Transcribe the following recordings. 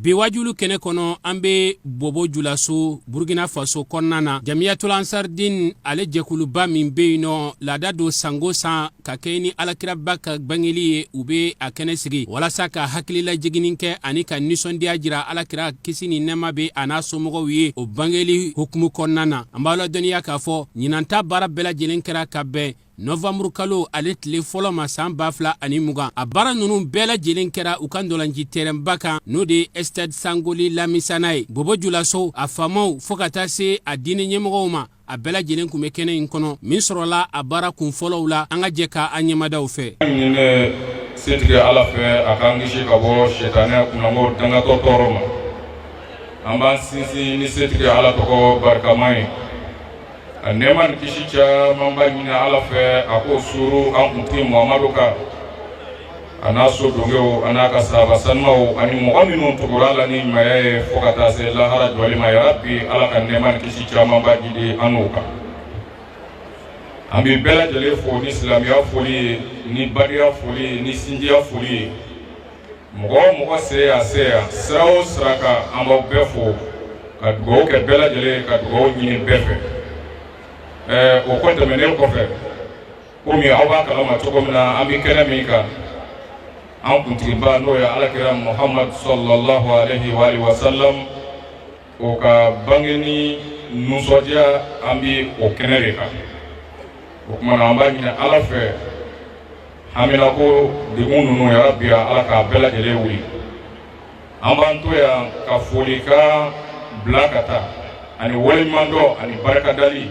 bi waajuli kɛnɛ kɔnɔ an be bobo julaso burkina faso kɔnɔna na jamiyatul ansar din ale jɛkuluba min be yen nɔ laada don sango san ka kɛɲɛ ni alakiraba ka bangeli ye u be a kɛnɛ sigi walasa ka hakililajiginin kɛ ani ka ninsɔndiya jira alakira kisi ni nɛɛma be a n'a somɔgɔw ye o bangeli hukumu kɔnɔna na an b'a ladɔnniya k'a fɔ ɲinanta baara bɛɛ lajɛlen kɛra ka bɛn Nowanburu kalo ale tile fɔlɔ ma san ba fila ani mugan a baara ninnu bɛɛ lajɛlen kɛra u ka ntɔlanci tɛrɛnba kan n'o de ye estade sangule lamizana ye bɔbɔjulaso a faamaw fɔɔ ka taa se a diinɛ ɲɛmɔgɔw ma a bɛɛ lajɛlen kun bɛ kɛnɛ in kɔnɔ min sɔrɔla a baara kun fɔlɔw la an ka jɛ ka an ɲɛmada u fɛ a ɲininen bɛ setigi ala fɛ a k'an kisi ka bɔ sitanɛ kunnango dangatɔ tɔɔrɔ ma an b'an sinsin ni setigi ala tɔgɔ barikama ye A nɛɛma ni kisi camanba ɲini Ala fɛ a k'o suuru an kuntigi Muhamadu kan a n'a so donkew a n'a ka sahaba sanumaw ani mɔgɔ minnu tugura u la ni ɲumanya ye fo ka taa se lahara jɔli ma yarabi Ala ka nɛɛma ni kisi camanba jiidi an n'u kan an bɛ bɛɛ lajɛlen fo ni silamɛya foli ye ni badenya foli ye ni sinjiya foli ye mɔgɔ o mɔgɔ sen y'a se yan sira o sira kan an b'aw bɛɛ fo ka dugawu kɛ bɛɛ lajɛlen ka dugawu ɲini bɛɛ fɛ ɛɛ o kɔ tɛmɛnen kɔfɛ komi aw b'a kalama cogo min na an bɛ kɛnɛ min kan an kuntigiba n'o ye alakira muhamadu salalahu alehi wa alihi wa salam O ka bangeli nisɔndiya an bɛ o kɛnɛ de kan o kuma na an b'a ɲini ala fɛ hamina ko degun ninnu yarabi ala k'a bɛɛ lajɛlen wuli an b'an to yan ka folikan bila ka taa ani waleɲumandɔn ani barika dali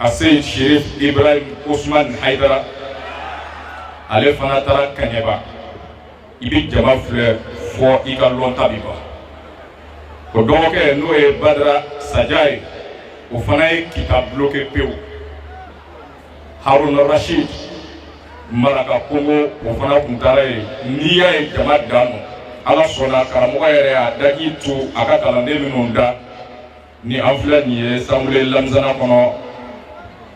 Aseyidi serifu ibrahim usmani hayidara ale fana taara kɛɲɛba i bɛ jama filɛ fɔ i ka lɔnta bi ban o dɔgɔkɛ n'o ye badara saja ye o fana ye kita bloke pewu haruna rasidi marakakungo o fana kun taara ye n'i y'a ye jama dan ma ala sɔnna karamɔgɔ yɛrɛ y'a daji to a ka kalanden minnu da ni an filɛ nin ye sangule lamizana kɔnɔ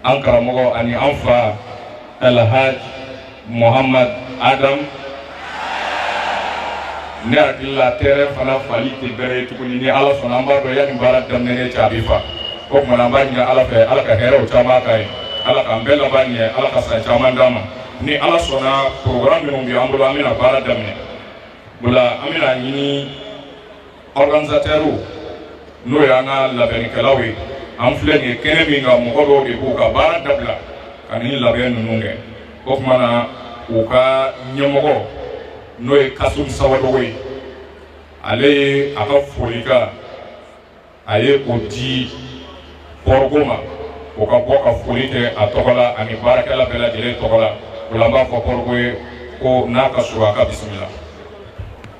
an karamɔgɔ ani an fa alhaj mohamad adam ne hakili la tɛrɛn fana fali tɛ bɛrɛ ye tuguni ni ala sɔnna an b'a dɔn yanni baara daminɛ cɛ a bɛ fa o kuma na an b'a ɲini ala fɛ ala ka hɛrɛw caman k'an ye ala k'an bɛɛ laban ɲɛ ala ka san caman d'an ma ni ala sɔnna programme minnu bɛ an bolo an bɛna baara daminɛ o la an bɛna ɲini Organisateurs n'o y'an ka labɛnnikɛlaw ye an filɛ nin ye kɛnɛ min kan mɔgɔ dɔw de b'u ka baara dabila ka nin labɛn ninnu kɛ o tuma na u ka ɲɛmɔgɔ n'o ye Kasum Sawadogo ye ale ye a ka folikan a ye o di Pɔrɔgo ma o ka bɔ ka foli kɛ a tɔgɔ la ani baarakɛla bɛɛ lajɛlen tɔgɔ la o la an b'a fɔ Pɔrɔgo ye ko n'a ka surun a ka bisimila.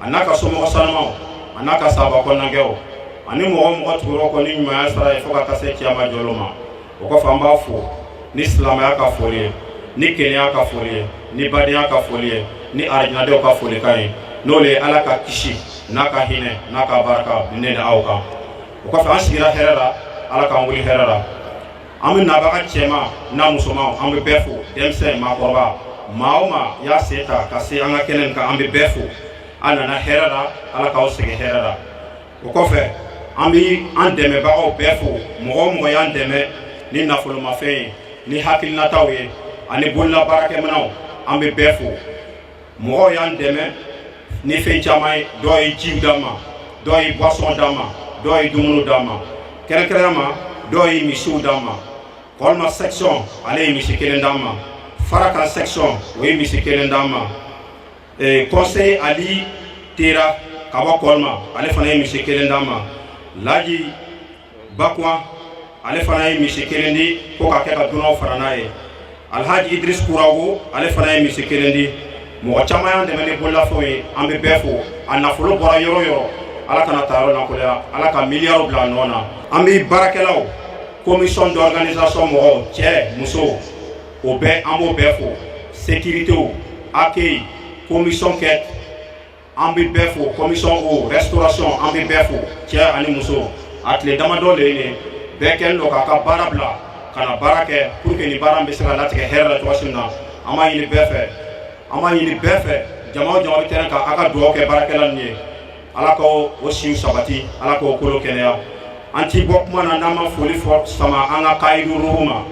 a n'a ka somɔgɔ sanumanw a n'a ka saba kɔnɔnagwɛw ani mɔgɔ o mɔgɔ tugura o kɔ ni ɲumanya sara ye fo ka taa se kiyama jɔ lon ma o kɔfɛ an b'a fo ni silamɛya ka foli ye ni kelenya ka foli ye ni badenya ka foli ye ni arijanadenw ka folikan ye n'o le ye ala ka kisi n'a ka hinɛ n'a ka barika ne ni aw kan o kɔfɛ an sigira hɛrɛ la ala k'an wuli hɛrɛ la an bɛ nabaga cɛman n'a musoman an bɛ bɛɛ fo denmisɛn maakɔrɔba maa o maa y'a sen ta ka se an ka kɛnɛ nin kan an bɛ bɛɛ fo a nana hɛrɛ la ala k'aw segin hɛrɛ la o kɔfɛ an bɛ an dɛmɛbagaw bɛɛ fo mɔgɔ o mɔgɔ y'an dɛmɛ ni nafolomafɛn ye ni hakilinataw ye ani bololabaarakɛminɛnw an bɛ bɛɛ fo mɔgɔw y'an dɛmɛ ni fɛn caman ye dɔw ye jiw d'an ma dɔw ye boisson d'an ma dɔw ye dumuni d'an ma kɛrɛnkɛrɛn ma dɔw ye misiw d'an ma Kɔlima section ale ye misi kelen d'an ma Farakan section o ye misi kelen d'an ma conseiller Ali Tera ka bɔ Kɔlima ale fana ye misi kelen d'an ma Laji Bakwa ale fana ye misi kelen di ko ka kɛ ka dunanw fana n'a ye Alhaji Idris Kurawogo ale fana ye misi kelen di mɔgɔ caman y'an dɛmɛ ni bololafɛnw ye an bɛ bɛɛ fo a nafolo bɔra yɔrɔ o yɔrɔ ala kana tayɔrɔ lankolonya ala ka miliyariw bila nɔ na an bɛ baarakɛlaw commission d'organisation mɔgɔw cɛ muso o bɛɛ an b'o bɛɛ fo sécuritéw accueil commission kɛ an bɛ bɛɛ fo commission o restauration an bɛ bɛɛ fo cɛ ani muso a tile damadɔ le ye nin bɛɛ kɛlen don k'a ka baara bila ka na baara kɛ pour que nin baara in bɛ se ka latigɛ hɛrɛ la cogoya min na an b'a ɲini bɛɛ fɛ an b'a ɲini bɛɛ fɛ jama o jama bɛ terrain kan a ka dugawu kɛ baarakɛla ninnu ye ala ka o siw sabati ala k'o kolo kɛnɛya an ti bɔ kuma na n'an ma foli fɔ sama an ka kayidu ruhu ma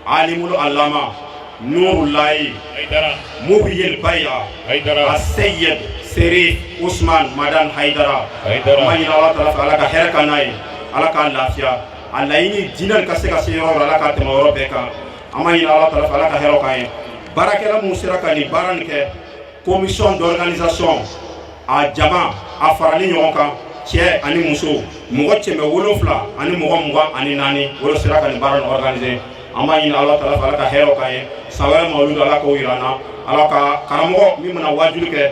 alimul allama nurulayi muhiyil baya aseyed Serif Usman Madani Haidara an b'a ɲini ala taala fɛ ala ka hɛrɛ ka n'a ye ala k'a lafiya a laɲini diinɛ ka se ka se yɔrɔ la ala k'a tɛmɛ yɔrɔ bɛɛ kan an b'a ɲini ala taala fɛ ala ka hɛrɛ k'an ye baarakɛla minnu sera ka nin baara nin kɛ commission d'organisation a jama a farali ɲɔgɔn kan cɛ ani muso mɔgɔ cɛmɛ wolonfila ani mɔgɔ mugan ani naani olu sera ka nin baara nin organiser an b'a ɲini ala taala fɛ ala ka hɛrɛw k'an ye san wɛrɛ mawuludu ala k'o yira an na ala ka karamɔgɔ min bɛna waajuli kɛ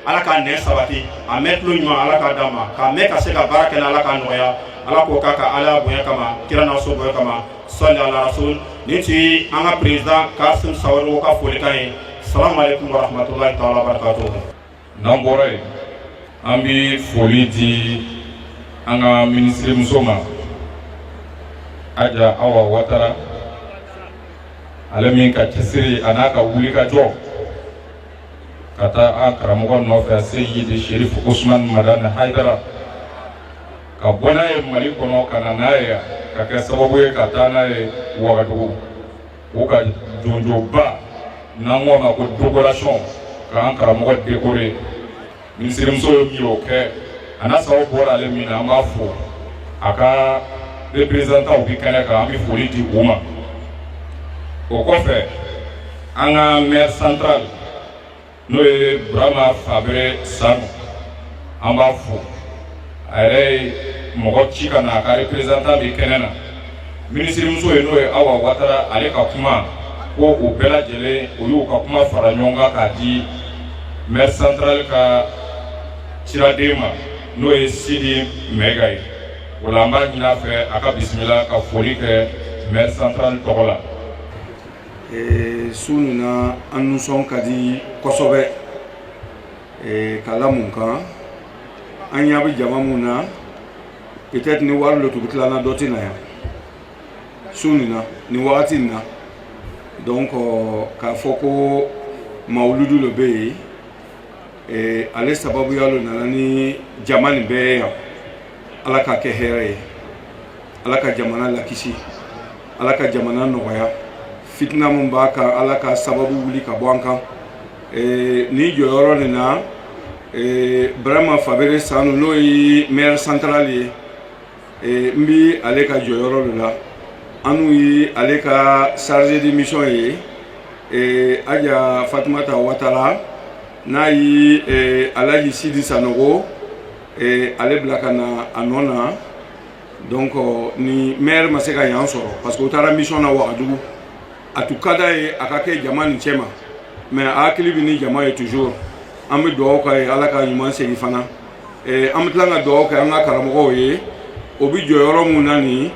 ala k'a nɛn sabati a mɛn tulo ɲuman ala k'a d'a ma k'a mɛn ka se ka baara kɛ n'a ala k'a nɔgɔya ala k'o k'a ka alaya bonya kama kira n'a so bonya kama sɔli ala rasul nin tun ye an ka président kasim sawadogo ka folikan ye salamu aleykum wa rahmatulahi taala wa barakatuhu n'an bɔra yen an bɛ foli di an ka minisiri muso ma aja awa watara ale min ka cɛsiri a n'a ka wulikajɔ ka taa an karamɔgɔ nɔfɛ seyidi sherif usman madani haidara ka bɔ n'a ye mali kɔnɔ ka na n'a ye ka kɛ sababu ye ka taa n'a ye wagadugu u ka jɔnjɔnba n'an k'o ma ko décoration k'an karamɔgɔ décorer minisirimuso ye min y'o kɛ a n'a sababu bɔra ale min na an b'a fo a ka représentants bɛ kɛnɛ kan an bɛ foli di u ma o kɔfɛ an ka maire central n'o ye burama fabere sanu an b'a fo a yɛrɛ ye mɔgɔ ci ka na a ka représentant bɛ kɛnɛ na minisirimuso ye n'o ye awa watara ale ka kuma ko o bɛɛ lajɛlen o y'u ka kuma fara ɲɔgɔn kan k'a di maire central ka ciraden ma n'o ye sidi mɛga ye o la an b'a ɲin'a fɛ a ka bisimila ka foli kɛ maire central tɔgɔ la su nin na an nisɔn ka di kosɛbɛ k'a la mun kan an ɲa bɛ jama min na peut-être ni wari lo tun bɛ tilan na dɔ tɛ na yan su nin na nin wagati nin na donc k'a fɔ ko mawuludu lo bɛ yen eh, ale sababuya lo nana ni jama nin bɛɛ ye yan ala k'a kɛ hɛrɛ ye ala ka jamana lakisi ala ka jamana nɔgɔya fitina min b'a kan ala ka sababu wuli ka bɔ an kan eh, ni jɔyɔrɔ nin na eh, brama fabere sanu n'o ye maire central ye eh, n bi ale ka jɔyɔrɔ lo la anw ye ale ka chargé de mission ye eh, aja fatumata watara n'a ye eh, alaji sidi sanogo eh, ale bila ka na a nɔ na donc euh, ni maire ma se ka yan sɔrɔ parce que u taara mission na wagadugu a tun ka d'a ye a ka kɛ jama nin cɛma mais a hakili bɛ ni jama ye toujours an bɛ dugawu k'a ye ala ka ɲuman segin fana eh, an bɛ tila ka dugawu kɛ an ka karamɔgɔw ye o bɛ jɔyɔrɔ min na nin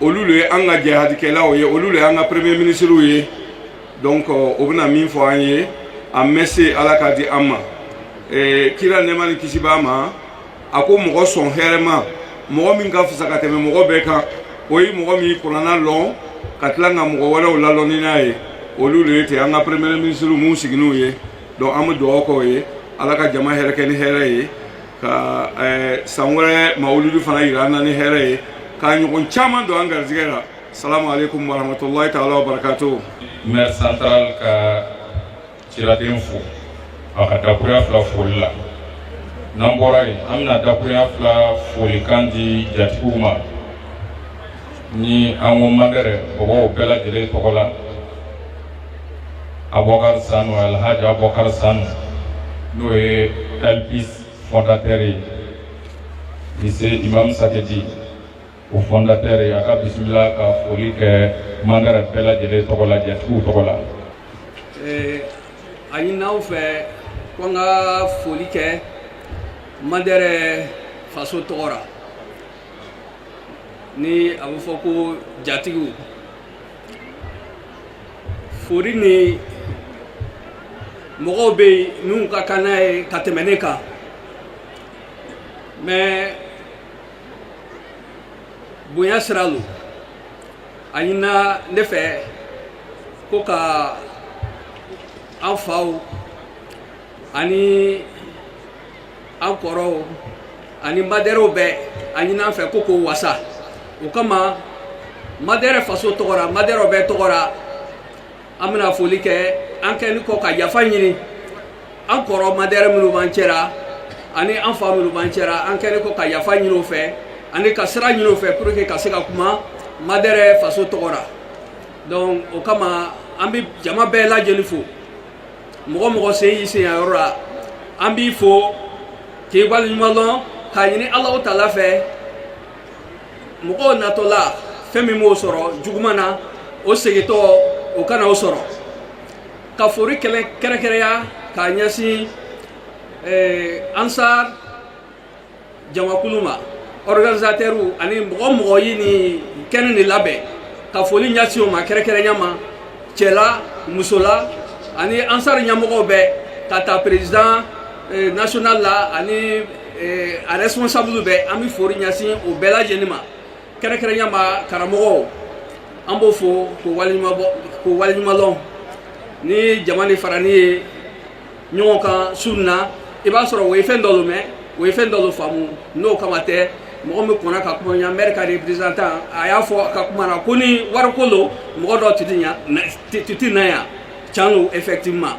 olu le ye an ka jihadikɛlaw ye olu le y'an ka premier ministrew ye donc euh, o bɛna min fɔ an ye a mɛ se ala k'a di an ma eh, kira nɛɛma ni kisi b'a ma a ko mɔgɔ sɔn hɛrɛma mɔgɔ min ka fisa ka tɛmɛ mɔgɔ bɛɛ kan o ye mɔgɔ min ye kurana lɔn ka tila ka mɔgɔ wɛrɛw lalɔnni n'a ye olu le ye ten an ka premier ministre min sigininw ye donc an bɛ dugawu k'o ye ala ka jama yɛrɛkɛ ni hɛrɛ ye ka eh, san wɛrɛ mawuludi fana yira an na ni hɛrɛ ye k'a ɲɔgɔn caman don an garisigɛ la salamu aleykum warahmatulahi taala wa barakatuhu maire central ka ciraden fo a ka dakuruya fila foli la n'an bɔra yen an bɛna dakuruya fila folikan di jatigiw ma ni an ko madɛrɛ mɔgɔw bɛɛ lajɛlen tɔgɔ la Aboubacar Sanou Alhaji Aboubacar Sanou n'o ye LPIS fondateur ye lycée Imam Sakidi o fondateur a ka bisimila ka foli kɛ mandɛrɛ bɛɛ lajɛlen tɔgɔ la jatigiw tɔgɔ la a ɲinina an fɛ ko an ka foli kɛ mandɛrɛ faso tɔgɔ la ni a bɛ fɔ ko jatigiw foli ni mɔgɔw bɛ yen minnu ka kan n'a ye ka tɛmɛ ne kan mais bonya sira lo a ɲinina ne fɛ ko ka an faw ani an kɔrɔw ani madɛrɛw bɛɛ a ɲinina an fɛ ko k'o wasa o kama madɛrɛ faso tɔgɔ ra madɛrɛw bɛɛ tɔgɔ ra an bɛna foli kɛ an kɛlen kɔ ka yafa ɲini an kɔrɔ madɛrɛ minnu b'an cɛ ra ani an fa minnu b'an cɛ ra an kɛlen kɔ ka yafa ɲini o fɛ ani ka sira ɲini o fɛ pour que ka se ka kuma madɛrɛ faso tɔgɔ la donc o kama an bɛ jama bɛɛ lajɛlen fo mɔgɔ o mɔgɔ sen y'i sen yan yɔrɔ la an b'i fo k'i waleɲuman lɔn k'a ɲini alahu taala fɛ mɔgɔw natɔ la fɛn min m'o sɔrɔ juguman na o segintɔ o kana o sɔrɔ ka fori kɛrɛnkɛrɛnya k'a ɲɛsin eh, ansar jamakulu ma organisateurw ani mɔgɔ o mɔgɔ ye nin kɛnɛ nin labɛn ka foli ɲɛsin o ma kɛrɛnkɛrɛnya ma cɛla musola ani ansar ɲɛmɔgɔw bɛɛ ka ta président eh, national la ani Eh, a responsable bɛɛ an bɛ fori ɲɛsin o bɛɛ lajɛlen ma kɛrɛnkɛrɛnya ma karamɔgɔw an b'o fo k'o waleɲuma k'o waleɲumalɔn ni jama nin faranin ye ɲɔgɔn kan su nin na i b'a sɔrɔ o ye fɛn dɔ lo mɛn o ye fɛn dɔ lo faamu n'o kama tɛ mɔgɔ min kɔnna ka kuma yan mɛri ka représentant a y'a fɔ a ka kuma na ko ni wariko lo mɔgɔ dɔ tun ti na yan can lo effectivement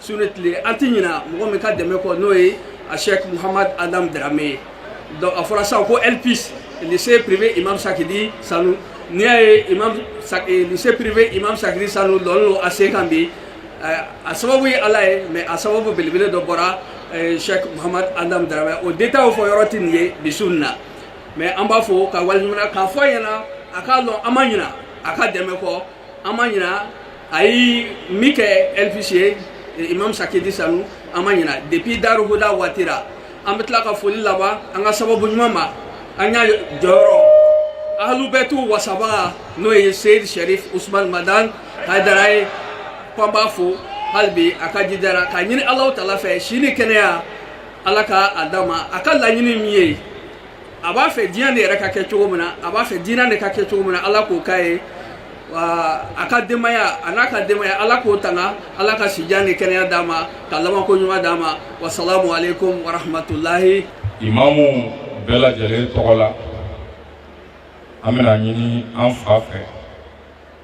su ni tile an tɛ ɲina mɔgɔ min ka dɛmɛ kɔ n'o ye a sheikh muhammad adam darame ye donc a fɔra sisan ko lpis lycée privé imam sakidi sanu n'i y'a ye imam eh, lycée privé imam sakidi sanu lɔnin lo a sen kan bi eh, a sababu ye ala ye mais a sababu belebele dɔ bɔra eh, sheikh muhammad adam darame o détail fɔ yɔrɔ tɛ nin ye bi su nin na mais an b'a fo k'a waleɲumalɔn k'a fɔ a ɲɛna a k'a dɔn an ma ɲina a ka dɛmɛ kɔ an ma ɲina a ye min kɛ lpis ye imam sakidi sanu an ma ɲina depuis daru huda waati la an bɛ tila ka foli laban an ka sababu ɲuman ma an y'a jɔyɔrɔ ahalubɛtu wasabaga n'o ye seyid sharif usman madan haidara ye k'an b'a fo hali bi a ka jidara k'a ɲini ala taala fɛ si ni kɛnɛya ala k'a d'a ma a ka laɲini min ye a b'a fɛ diɲɛ de yɛrɛ ka kɛ cogo min na a b'a fɛ diinɛ de ka kɛ cogo min na ala k'o k'a ye wa a ka denbaya a n'a ka denbaya ala k'o tanga ala ka sijan ni kɛnɛya d'a ma ka labanko ɲuman d'a ma wasalamu aleykum warahmatulahi imamu bɛɛ lajɛlen tɔgɔ la an bɛna ɲini an fa fɛ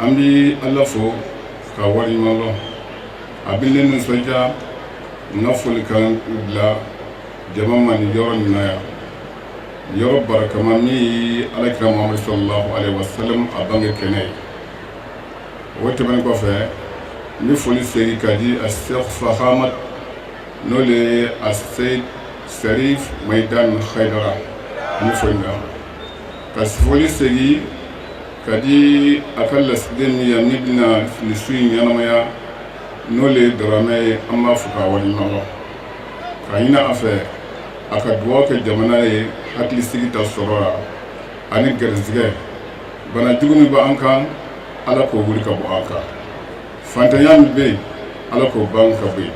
an bɛ ala fo k'a waleɲumandɔn a bɛ ne nisɔndiya n ka folikan bila jama ma nin yɔrɔ nin na yan yɔrɔ barakama min ye alakira mamadu sallallahu alayhi wa sallam a bange kɛnɛ ye o tɛmɛnen kɔfɛ n bɛ foli segin ka di a sɛk fahamat n'o le ye a seyid sɛrif mayidan hayidara n bɛ foli da ka foli segin ka di a ka lasigiden min yan min bɛna nin su in ɲɛnamaya n'o le ye daramɛ ye an b'a fo k'a waleɲumandɔn ka ɲini a fɛ a ka dugawu kɛ jamana ye hakilisigi ta sɔrɔ la ani garisigɛ bana jugu min bɛ an kan ala k'o wuli ka bɔ an kan fantanya min bɛ yen ala k'o ban ka bɔ yen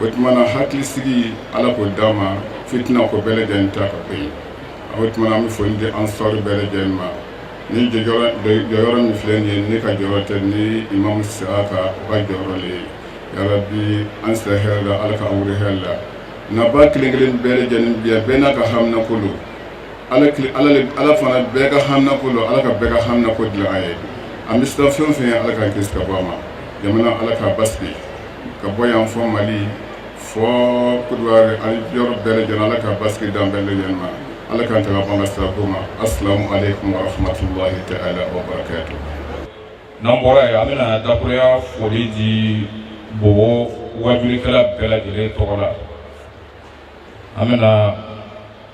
o tuma na hakilisigi ala k'o d'an ma fitina ko bɛɛ lajɛlen ta ka bɔ yen o tuma na an bɛ foli di ansar bɛɛ lajɛlen ma nin jɔyɔrɔ min filɛ nin ye ne ka jɔyɔrɔ tɛ ni imamu siyaka o ka jɔyɔrɔ le ye yarabi an sera hɛrɛ la ala k'an wuli hɛrɛ la nabaa kelen kelen bɛɛ lajɛlen bi yan bɛɛ n'a ka hamina ko don ala ala fana bɛɛ ka hamina ko don ala ka bɛɛ ka hamina ko dilan a ye an bɛ siran fɛn o fɛn ɲɛ ala k'an kisi ka bɔ a ma jamana ala k'a basigi ka bɔ yan fo mali fo kɔdiwari ani yɔrɔ bɛɛ lajɛlen ala ka basigi d'an bɛɛ lajɛlen ma ala k'an tanga bɔ an ka sirako ma asalamu aleykum wa rahmatulahi ta'ala wa barakatu n'an bɔra yen an bɛna dakuruya foli di bobo wajulikɛla bɛɛ lajɛlen tɔgɔ la an bɛna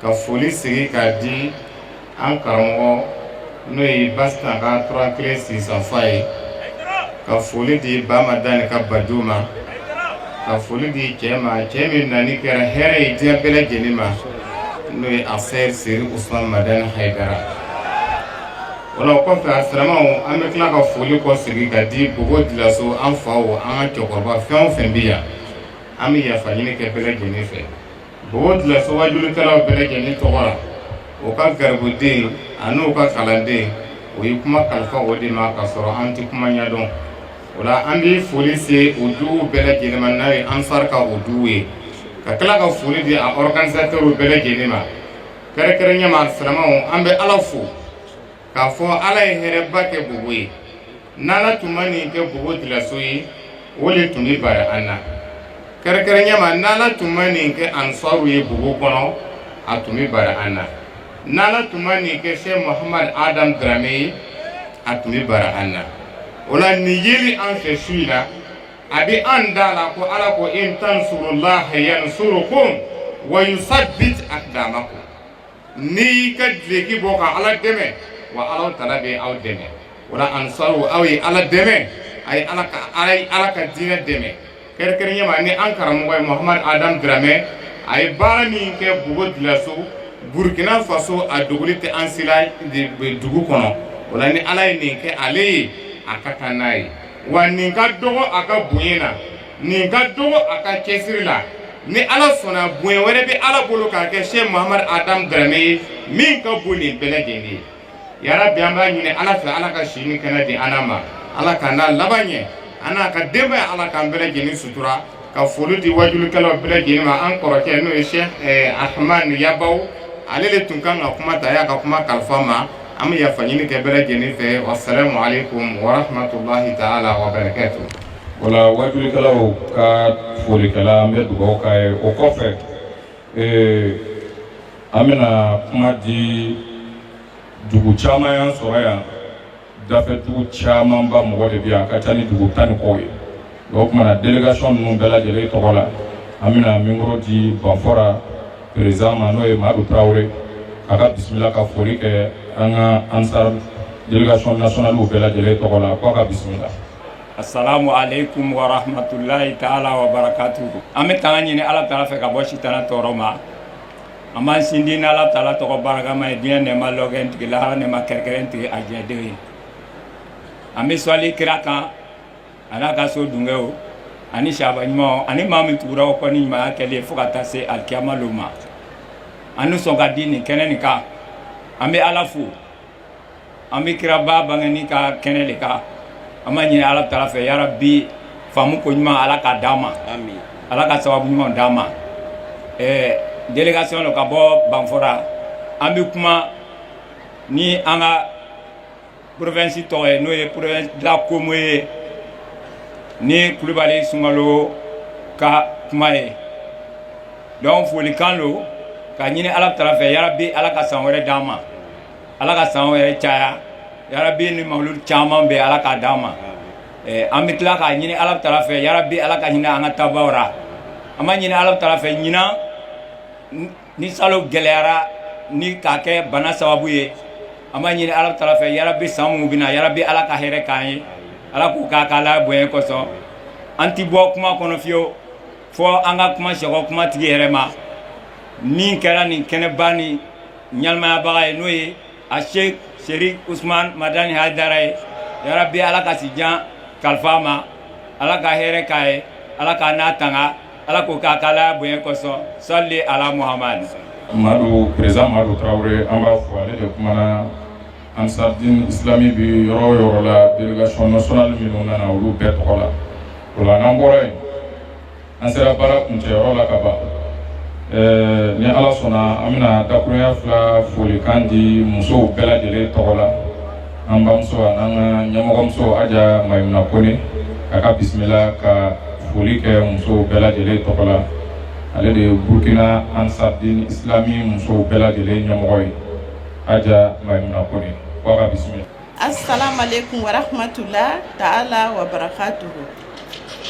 ka foli segi k'a di an karamɔgɔ n'o ye basitan ka tora kelen sisanfa ye ka foli di bamadani ka bajo ma ka foli di cɛ ma cɛ min nani kɛra hɛrɛ ye diɲɛ bɛɛ lajɛlen ma n'o ye aseyid seri usman madani hayidara o la o kɔfɛ a silamɛw an bɛ tila ka foli kɔsegi ka di bobo dilaso an faw an ka cɛkɔrɔba fɛn o fɛn bɛ yan an bɛ yafa ɲini kɛ bɛɛ lajɛlen fɛ Bobo dilaso wajulikɛlaw bɛɛ lajɛlen tɔgɔ la o ka garibuden ani n'u ka kalanden u ye kuma kalifa o de ma ka sɔrɔ an tɛ kuma ɲɛdɔn o la an bɛ foli se u duguw bɛɛ lajɛlen ma n'a ye ansari ka u dugu ye ka tila ka foli di a ɔriganizatɛriw bɛɛ lajɛlen ma kɛrɛnkɛrɛnya ma silamɛw an bɛ ala fo k'a fɔ ala ye hɛrɛba kɛ bobo ye n'ala tun ma nin kɛ bobo dilaso ye o de tun bɛ bara an na kɛrɛnkɛrɛnya ma n'ala tun ma nin kɛ ansaru ye bobo kɔnɔ a tun bɛ bara an na n'ala tun ma nin kɛ se muhamadu adam diramɛ ye a tun bɛ bara an na o la nin yeli an fɛ su in na a bɛ an da la ko ala ko in tansurulaha yansurukum wa yusabit akdamakum n'i ka dileki bɔ ka ala dɛmɛ wa ala taala bɛ aw dɛmɛ o la ansaru aw ye ala dɛmɛ a ye ala ka diinɛ dɛmɛ kɛrɛnkɛrɛnya ma ni an karamɔgɔ ye muhamadu adamu diramɛ a ye baara min kɛ bobo dilaso burukina faso a dogolen tɛ an si la dugu kɔnɔ o la ni ala ye nin kɛ ale ye a ka kan n'a ye wa nin ka dɔgɔ a ka bonya na nin ka dɔgɔ a ka cɛsiri la ni ala sɔnna bonya wɛrɛ bɛ ala bolo k'a kɛ se muhamadu adamu diramɛ ye min ka bon nin bɛɛ lajɛlen ye yarabi an b'a ɲini ala fɛ ala ka si ni kɛnɛ di an ma ala k'an n'a laban ɲɛ an n'a ka denbaya ala k'an bɛɛ lajɛlen sutura ka foli di wajulikɛlaw bɛɛ lajɛlen ma an kɔrɔkɛ n'o ye sɛki ahamani yabaw ale de tun kan ka kuma ta y'a ka kuma kalifa ma an bɛ yafa ɲini kɛ bɛɛ lajɛlen fɛ wasalamu aleykum wa rahmatulahi taala wa barakatu. o la waajulikɛlaw ka foli kɛla an bɛ dugawu k'a ye o kɔfɛ ee, an bɛna kuma di dugu caman y'an sɔrɔ yan dafɛ dugu camanba mɔgɔ de bɛ yan a ka ca ni dugu tan ni kɔ ye o tuma na delegation ninnu bɛɛ lajɛlen tɔgɔ la an bɛna mikoro di banfɔra perezidan ma n'o ye madu tarawele a ka bisimila ka foli kɛ an ka ansar delegation nationaliw bɛɛ lajɛlen tɔgɔ la k'a ka bisimila assalamu alaikum wa rahmatullahi taala wa barakatuhu an bɛ tanga ɲini ala taala fɛ ka bɔ sitana tɔɔrɔ ma an b'a sindi ni ala taala tɔgɔ barakama ye diɲɛ nɛɛma lɔgɛn tigi lahara nɛɛma kɛrɛnkɛrɛn tigi a jɛdenw ye an bɛ sɔli kira kan a n'a ka so dungew ani saba ɲumanw ani maa min tugura o kɔ ni ɲumanya kɛli ye fo ka taa se alikiyama lon ma an nisɔn ka di nin kɛnɛ nin kan an bɛ ala fo an bɛ kiraba bangeni ka kɛnɛ de kan an b'a ɲini ala taala fɛ yarabi faamu ko ɲuman ala k'a d'an ma ala ka sababu ɲuman d'an ma ɛɛ delegation lo ka bɔ banfora an bɛ kuma ni an ka porovensi tɔgɔ ye n'o ye porovensi de la comoé ni kulubali sunkalo ka kuma ye donc folikan lo k'a ɲini ala taala fɛ yarabi ala ka san wɛrɛ d'an ma ala ka san wɛrɛ caya yarabi ni mawuludi caman bɛ ala k'a d'an ma eh, an bɛ tila k'a ɲini ala taala fɛ yarabi ala ka hinɛ an ka taabaw ra an b'a ɲini ala taala fɛ ɲinan ni salon gɛlɛyara ni k'a kɛ bana sababu ye an b'a ɲini ala taala fɛ yarabi san minnu bɛ na yarabi ala ka hɛrɛ k'an ye ala k'o k'a k'alaya bonya kosɔn an ti bɔ kuma kɔnɔ fiyewu fo an ka kuma sɛgɔ kuma tigi yɛrɛ ma min kɛra nin kɛnɛba nin ɲɛnamayabaga ye n'o ye a sheik serif usman madani haidara ye yarabi ala ka si jan kalifa a ma ala ka hɛrɛ k'a ye ala k'a n'a tanga ala k'o k'a k'alaya bonya kosɔn sali ala muhamadu madu perezidan madu tarawele an b'a fo ale de kumana ansaridin isilami bɛ yɔrɔ o yɔrɔ la delegation nationale minnu nana olu bɛɛ tɔgɔ la o la n'an bɔra yen an sera baara kuncɛyɔrɔ la ka ban ɛɛ ni ala sɔnna an bɛna dakurunya fila folikan di musow bɛɛ lajɛlen tɔgɔ la an bamuso an'an ka ɲɛmɔgɔmuso Aja Mayimuna Kone a ka bisimila ka foli kɛ musow bɛɛ lajɛlen tɔgɔ la ale de ye Burkina Ansardin Islami musow bɛɛ lajɛlen ɲɛmɔgɔ ye Aja Mayimuna Kone ko a ka bisimila. Asalamualekum warahamatula taala wa barakatuhu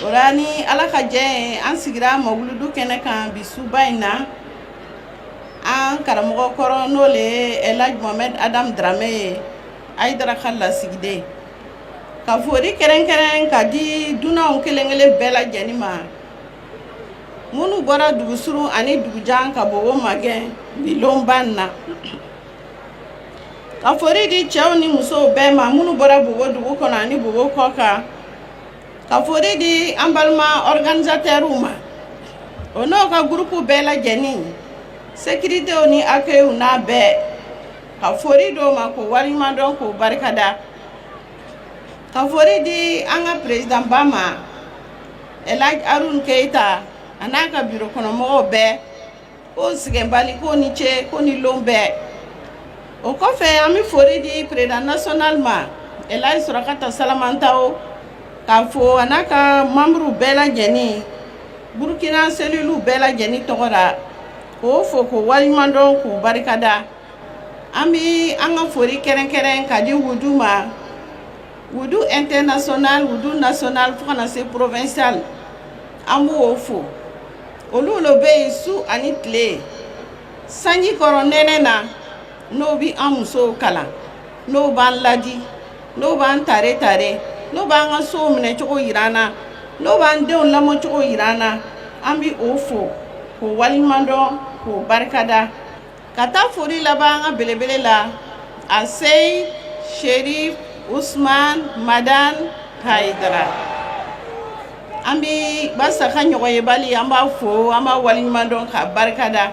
o ra ni Ala ka jɛ ye an sigira mawuludu kɛnɛ kan bi suba in na an karamɔgɔ kɔrɔ n'o le ye Elhaji Mohamɛdi Adamu Darame ye Ayidara ka lasigiden ka foli kɛrɛnkɛrɛn ka di dunanw kelen-kelen bɛɛ lajɛlen ma minnu bɔra dugu surun ani dugu jan ka Bobo magɛn bi lonba in na ka foli di cɛw ni musow bɛɛ ma minnu bɔra Bobo dugu kɔnɔ ani Bobo kɔ kan ka foli di an balima organisateurs ma o n'o ka groupe bɛɛ lajɛlen sécuritéw ni accueil n'a bɛɛ ka foli d'o ma k'o waleɲuman dɔn k'o barikada ka foli di an ka président ba ma Elhaji Aruna Keyita a n'a ka bureau kɔnɔmɔgɔw bɛɛ k'o sɛgɛnbali k'o ni ce k'o ni lon bɛɛ o kɔfɛ an bɛ foli di président national ma Elhaji Surakata Salamantao k'a fo a n'a ka membrew bɛɛ lajɛlen Burkina cellulew bɛɛ lajɛlen tɔgɔ la k'o fo k'o waleɲuman dɔn k'o barikada an bɛ an ka foli kɛrɛnkɛrɛn ka di wudu ma wudu international wudu national fo ka na se provincial an b'o fo olu le bɛ yen su ani tile sanji kɔrɔ nɛnɛ na n'o bi an musow kalan n'o b'an ladi n'o b'an tare tare n'o b'an ka sow minɛ cogo yira an na n'o b'an denw lamɔ cogo yira an na an bi o fo k'o waliɲuman dɔn k'o barikada ka taa foli laban an ka belebele la a seyi serif usman madan hayidara an bi basa ka ɲɔgɔnyebali an b'a fo an b'a waliɲuman dɔn k'a barika da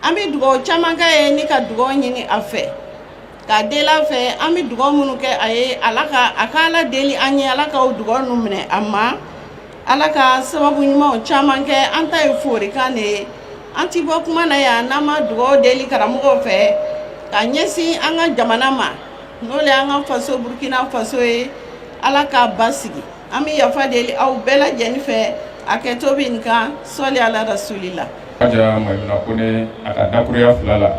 an bi dugaw caman k'a ye ni ka dugaw ɲini a fɛ k'a deli a fɛ an bɛ dugaw minnu kɛ a ye ala ka a ka ala deli an ye ala ka o dugaw ninnu minɛ a ma Ala ka sababu ɲumanw caman kɛ an ta ye folikan de ye an tɛ bɔ kuma na yan n'an ma dugawu deli karamɔgɔw fɛ ka ɲɛsin an ka jamana ma n'o le an ka faso Burkina Faso ye Ala k'a basigi an bɛ yafa deli aw bɛɛ lajɛlen fɛ hakɛto bɛ n kan sɔli Ala rasulila. Haja Mayimuna Kone a ka dakuruya fila la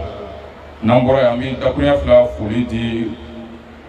n'an bɔra yan an bɛ dakuruya fila foli di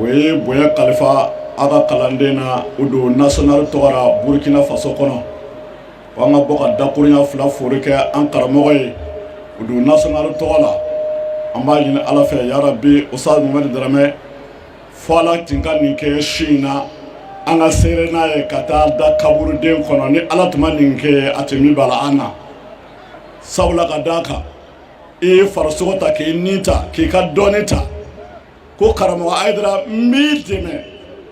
o ye bonya kalifa a ka kalanden na wudu national tɔgɔ ra burkina faso kɔnɔ ko an ka bɔ ka dakurunya fila fori kɛ an karamɔgɔ ye wudu national tɔgɔ la an b'a ɲini ala fɛ yarabi ustaz mohamɛd daramɛ fo ala tin ka nin kɛ su in na an ka seere n'a ye ka taa da kaburuden kɔnɔ ni ala tun ma nin kɛ a tun bi bala an na sabula ka d'a kan i ye farisogo ta k'i ni ta k'i ka dɔɔni ta ko karamɔgɔ hayidara n b'i dɛmɛ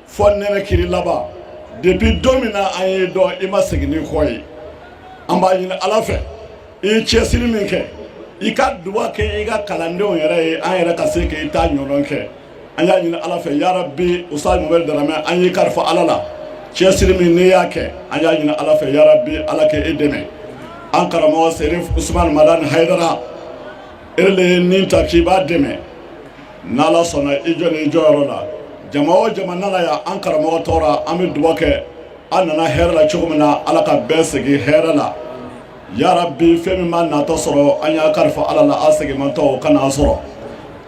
fo nɛnɛkiri laban depuis don min na an y'i dɔn i ma segin n'i kɔ ye an b'a ɲini ala fɛ i ye cɛsiri min kɛ i ka duba kɛ i ka kalandenw yɛrɛ ye an yɛrɛ ka se k'i ta ɲɔgɔn kɛ an y'a ɲini ala fɛ yarabi ustaz mohamɛd daramɛ an y'i kalifa ala la cɛsiri min n'i y'a kɛ an y'a ɲini ala fɛ yarabi ala ka e dɛmɛ an karamɔgɔ serif usman madan hayidara e le ye nin ta k'i b'a dɛmɛ n' ala sɔnna i jɔ n'i jɔyɔrɔ la jama o jama nana yan an karamɔgɔ tɔgɔ ra an bɛ duba kɛ an nana hɛrɛ la cogo min na ala ka bɛɛ segin hɛrɛ la ya rabi fɛn min m'an natɔ sɔrɔ an y'a kalifa ala la an seginmantɔ o kan'an sɔrɔ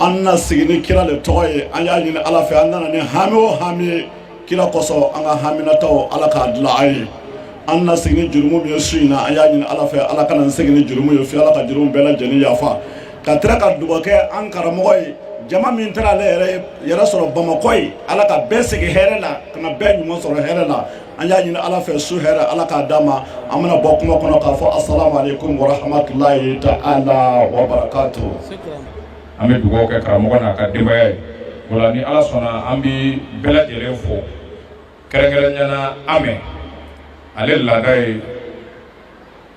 an na sigi ni kira le tɔgɔ ye an y'a ɲini ala fɛ an nana ni hami o hami ye kira kosɔn an ka haminataw ala k'a dilan an ye an na sigi ni jurumu min ye su in na an y'a ɲini ala fɛ ala kan'an segin ni jurumu ye fi ala ka jurumu bɛɛ lajɛlen yafa ka tila ka dugawu kɛ an karamɔgɔ ye jama min taara ale yɛrɛ yɛrɛ sɔrɔ bamakɔ yen ala ka bɛɛ segin hɛrɛ la ka na bɛɛ ɲuman sɔrɔ hɛrɛ la an y'a ɲini ala fɛ su hɛrɛ ala k'a d'an ma an bɛna bɔ kuma kɔnɔ k'a fɔ asalamu aleykum warahmatulahi taala wabarakatu an bɛ dugawu kɛ karamɔgɔ n'a ka denbaya ye o la ni ala sɔnna an bɛ bɛɛ lajɛlen fo kɛrɛnkɛrɛnya na amɛ ale laada ye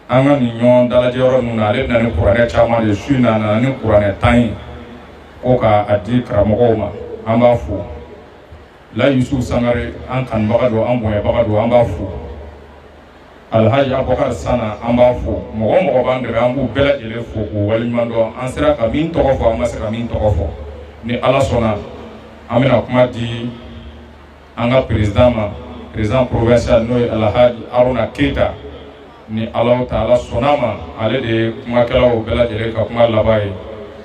an ka nin ɲɔgɔn dalajɛ yɔrɔ ninnu na ale na ni kuranɛ caman de su in na a nana ni kuranɛ tan ye ko ka a di karamɔgɔw ma an b'a fo la yusu sangare an kanubaga don an bonyabaga don an b'a fo alhaji abubakar sana an b'a fo mɔgɔ o mɔgɔ b'an dɛmɛ an b'u bɛɛ lajɛlen fo k'u waleɲuman lɔn an sera ka min tɔgɔ fɔ an ma se ka min tɔgɔ fɔ ni ala sɔnna an bɛna kuma di an ka président ma président provincial n'o ye alhaji aruna keyita ni alahu taala sɔnna ma ale de ye kumakɛlaw bɛɛ lajɛlen ka kuma laban ye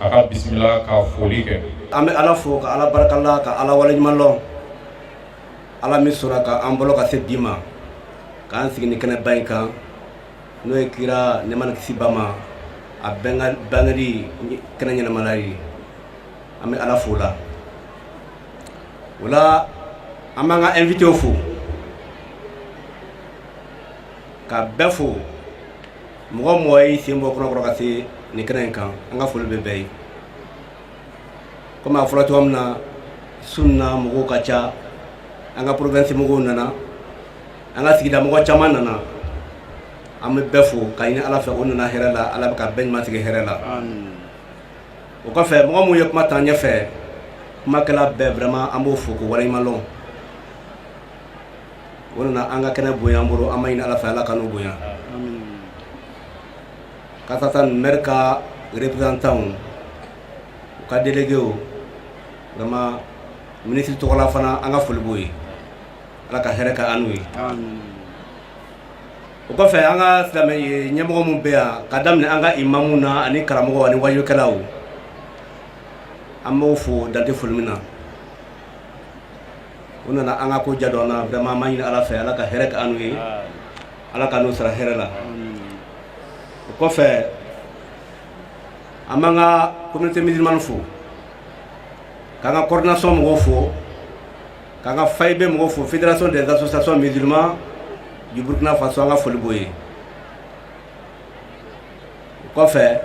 a ka bisimila ka foli kɛ an bɛ ala fo ka ala barika la ka ala waleɲuman lɔn ala min sɔnna ka an balo ka se bi ma k'an sigi nin kɛnɛba in kan n'o ye kira nɛɛma ni kisi b'a ma a bangeli kɛnɛ ɲɛnamayali ye an bɛ ala fo la o la an b'an ka invitew fo ka bɛɛ fo mɔgɔ mɔgɔ y'i sen bɔ kɔnɔkɔrɔ ka se nin kɛnɛ in kan an ka foli bɛ bɛɛ ye kɔmi a fɔra cogoya min na su in na mɔgɔw ka ca an ka province mɔgɔw nana an ka sigida mɔgɔ caman nana an bɛ bɛɛ fo k'a ɲini ala fɛ o nana hɛrɛ la ala bɛ ka bɛɛ ɲuman segin hɛrɛ la o kɔfɛ mɔgɔ minnu ye kuma t'an ɲɛfɛ kumakɛla bɛɛ vraiment an b'o fo k'o waleɲuman lɔn o nana an ka kɛnɛ bonya an bolo an b'a ɲini ala fɛ ala k'an n'o bonya Kasa tan maire ka représentantw u ka déléguéw vraiment ministre tɔgɔ la fana an ka foli b'o ye ala ka hɛrɛ k'an n'u ye o kɔfɛ an ka silamɛya ɲɛmɔgɔ minnu bɛ yan ka daminɛ an ka imamu na ani karamɔgɔw ani wajukɛlaw an b'o fo dan tɛ foli min na u nana an ka ko jadɔn na vraiment an b'a ɲini ala fɛ ala ka hɛrɛ k'an n'u ye ala k'an n'o sara hɛrɛ la o kɔfɛ an b'an ka communauté musulmane fo k'an ka coordination mɔgɔw fo k'an ka faib mɔgɔw fo fédération des associations musulmanes du burkina faso an ka foli b'o ye o kɔfɛ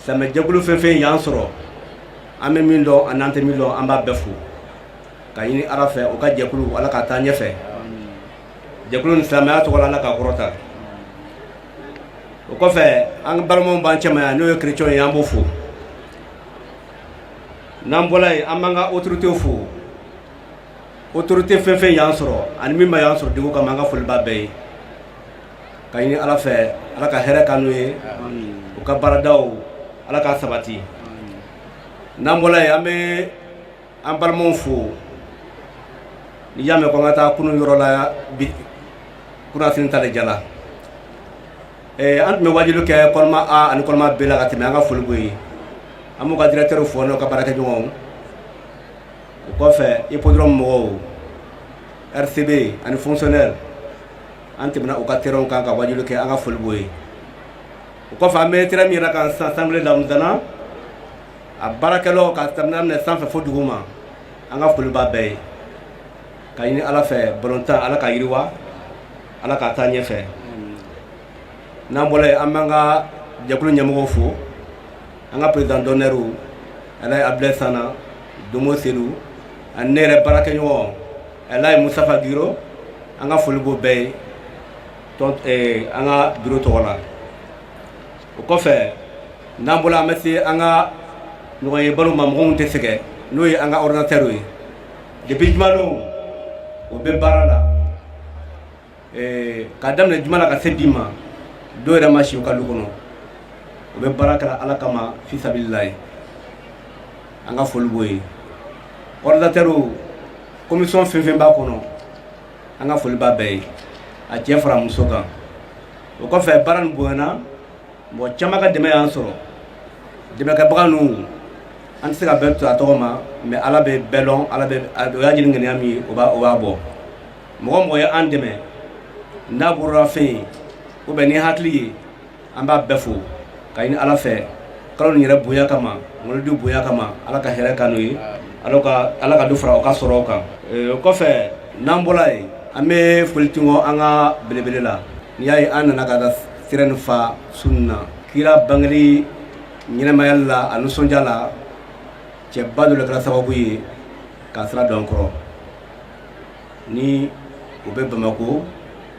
silamɛjɛkulu fɛn fɛn y'an sɔrɔ an bɛ min dɔn an'an tɛ min dɔn an b'a bɛɛ fo ka ɲini ala fɛ o ka jɛkulu ala ka taa ɲɛfɛ jɛkulu ni silamɛya tɔgɔ ala k'a kɔrɔta o kɔfɛ an balimaw b'an cɛma yan n'o ye chrétien ye an b'o fo n'an bɔla yen an b'an ka autorité fo autorité fɛn fɛn y'an sɔrɔ ani min ma yan sɔrɔ degun kama an ka foli b'a bɛɛ ye ka ɲini ala fɛ ala ka hɛrɛ k'an n'u ye u ka baaradaw ala k'a sabati n'an bɔla yen an bɛ an balimaw fo n'i y'a mɛn ko an ka taa kunun yɔrɔ la bi kunasini ta de diyala eh, an tun bɛ waajuli kɛ colma a ani colma b la ka tɛmɛ an ka foli b'o ye an b'u ka directeur fo n'o ka baarakɛɲɔgɔnw o kɔfɛ hippodrome mɔgɔw rcb ani fonctionnaire an tɛmɛna u ka terrainw kan ka waajuli kɛ an ka foli b'o ye o kɔfɛ an bɛ terrain min yɛrɛ kan sisan sangoulé lamizana a baarakɛlaw k'a daminɛ sanfɛ fo duguma an ka foli b'a bɛɛ ye ka ɲini ala fɛ balontan ala k'a yiriwa ala ka taa ɲɛfɛ n'an bɔra yen an b'an ka jɛkulu ɲɛmɔgɔw fo an ka président d'honneurw alaji abdulayi sanna domo selu ani ne yɛrɛ baarakɛɲɔgɔn alaji mustafa giro an ka foli b'o bɛɛ ye tɔn eh, an ka biro tɔgɔ la o kɔfɛ n'an bɔla an bɛ se an ka ɲɔgɔnyebaliw ma mɔgɔw tɛ sɛgɛn n'o ye an ka ordinatɛriw ye depuis jumadon o bɛ baara la ka daminɛ juma la ka se bi ma dɔw yɛrɛ ma si u ka du kɔnɔ u bɛ baara kɛra ala kama fisabililahi an ka foli b'o ye ordinatɛriw commission fɛn fɛn b'a kɔnɔ an ka foli b'a bɛɛ ye a cɛ fara muso kan o kɔfɛ baara nin bonyana mɔgɔ caman ka dɛmɛ y'an sɔrɔ dɛmɛkɛbaga ninnu an tɛ se ka bɛɛ to a tɔgɔ ma mais ala bɛ bɛɛ dɔn ala bɛ o y'a ɲini ŋaniya min ye o b'a o b'a bɔ mɔgɔ o mɔgɔ ye an dɛmɛ n'a bolorafɛn ye ou bien ni hakili ye an b'a bɛɛ fo ka ɲini ala fɛ kalo nin yɛrɛ bonya kama mawuludu bonya kama ala ka hɛrɛ k'an n'o ye ala ka ala ka dɔ fara o ka sɔrɔ kan o kɔfɛ n'an bɔra yen an bɛ foli tugun an ka belebele la n'i y'a ye an nana ka da sira nin fa su nin na kira bangeli ɲɛnɛmayali la a nisɔndiya la cɛba dɔ de kɛra sababu ye k'a sira don kɔrɔ ni o bɛ bamako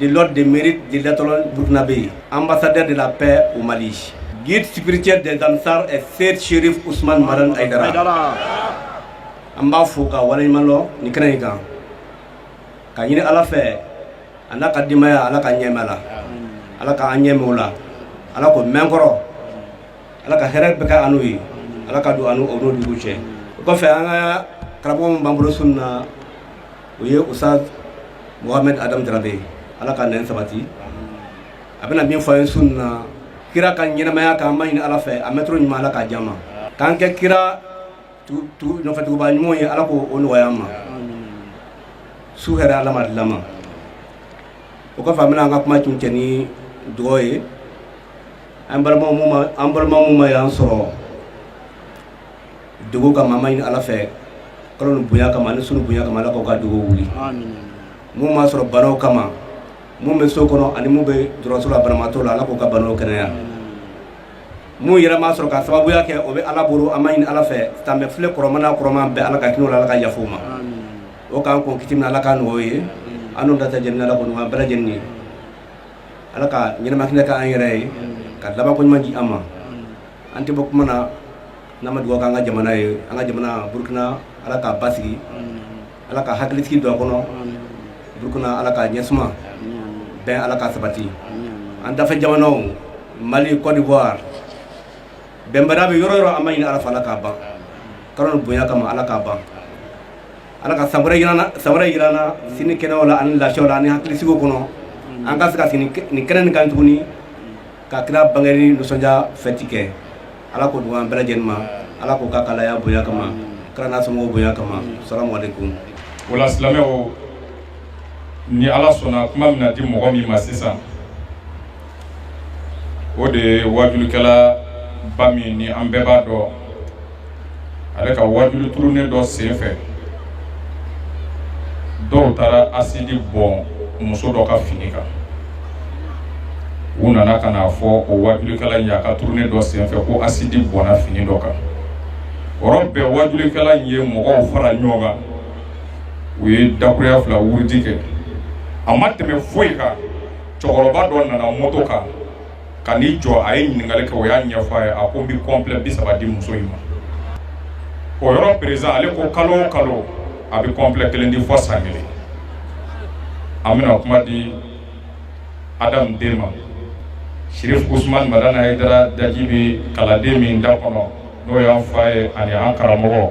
de l'ordre de mérite de l'étoile burkinabé, ambassadeur de la paix au Mali. Guide spirituel des Ansar Es Seyd Chérif Ousmane Madani Haïdara. An b'a fo ka waleɲuman lɔn nin kɛnɛ in kan k'a ɲini ala fɛ a n'a ka denbaya ala k'a ɲɛ mɛn an na ala k'an ɲɛ mɛn o la ala k'o mɛn kɔrɔ ala ka hɛrɛ bɛɛ kɛ an n'o ye ala ka don an n'o jugu cɛ o kɔfɛ an ka karamɔgɔ min b'an bolo su in na o ye Oustaz Mohamed Adam Dramé ala k'a nɛn sabati a bɛna min fɔ an ye su in na kira ka ɲɛnamaya kan an b'a ɲini ala fɛ a mɛntoro ɲuman ala k'a di an ma k'an kɛ kira nɔfɛtuguba ɲumanw ye ala k'o nɔgɔya an ma su hɛrɛ ala m'a dil'an ma o kɔfɛ an bɛna an ka kuma kuncɛ ni dugawu ye an balima an balima minnu ma yan sɔrɔ degun kama an b'a ɲini ala fɛ kalo nin bonya kama ni su nin bonya kama ala k'u ka degun wuli mun m'a sɔrɔ banaw kama mun bɛ so kɔnɔ ani mun bɛ dɔgɔtɔrɔso la banabaatɔ la ala k'u ka banaw kɛnɛya mun yɛrɛ m'a sɔrɔ ka sababuya kɛ o bɛ ala bolo an b'a ɲini ala fɛ k'an bɛɛ fure kurama n'a kɔrɔma bɛɛ ala ka hinɛ u la ala ka yafa u ma o k'an kɔn kiti min na ala k'a nɔgɔ o ye an n'o data jɛnɛ ala k'o nɔgɔ an bɛɛ lajɛlen ye ala ka ɲɛnama hinɛ k'an yɛrɛ ye ka laban ko ɲuman di an ma an tɛ bɔ kuma na n'an ma dugawu kɛ an ka jamana ye an ka jamana Burukina Ala k'a basigi Ala ka hakilisigi don a kɔnɔ Burukina Ala k'a ɲɛsuma bɛn Ala k'a sabati an dafɛ jamanaw Mali Côte d'Ivoire bɛnbaliya bɛ yɔrɔ o yɔrɔ an b'a ɲini Ala fɛ Ala k'a ban kalo nin bonya kama Ala k'a ban Ala ka san wɛrɛ yir'an na si ni kɛnɛyaw la ani lafiyaw la ani hakilisigiw kɔnɔ an ka se ka sigi nin kɛnɛ nin kan tuguni ka kira bangeni nisɔndiya fɛti kɛ ala k'o dugawu bɛɛ lajɛlen mina ala k'o k'a ka alaya bonya kama kira n'a somɔgɔw bonya kama salamu alaikum wala silamɛw ni ala sɔnna kuma bɛna di mɔgɔ min ma sisan o de ye wajulikɛla ba min ni an bɛɛ b'a dɔn ale ka wajuli tournée dɔ senfɛ dɔw taara asidi bɔn muso dɔ ka fini kan u nana ka n'a fɔ o wajulikɛla in ye a ka tournée dɔ senfɛ ko asidi bɔnna fini dɔ kan o yɔrɔ bɛɛ wajulikɛla in ye mɔgɔw fara ɲɔgɔn kan u ye dakuruya fila wurudi kɛ a ma tɛmɛ foyi kan cɛkɔrɔba dɔ nana moto kan ka n'i jɔ a ye ɲininkali kɛ o y'a ɲɛfɔ a ye a ko n bɛ kɔnplɛ bi saba di muso in ma o yɔrɔ président ale ko kalo o kalo a bɛ kɔnplɛ kelen di fɔ san kelen an bɛna kuma di adamu den ma sirif usuman madani hayidara daji bɛ kalanden min da kɔnɔ n'o y'an fa ye ani an karamɔgɔ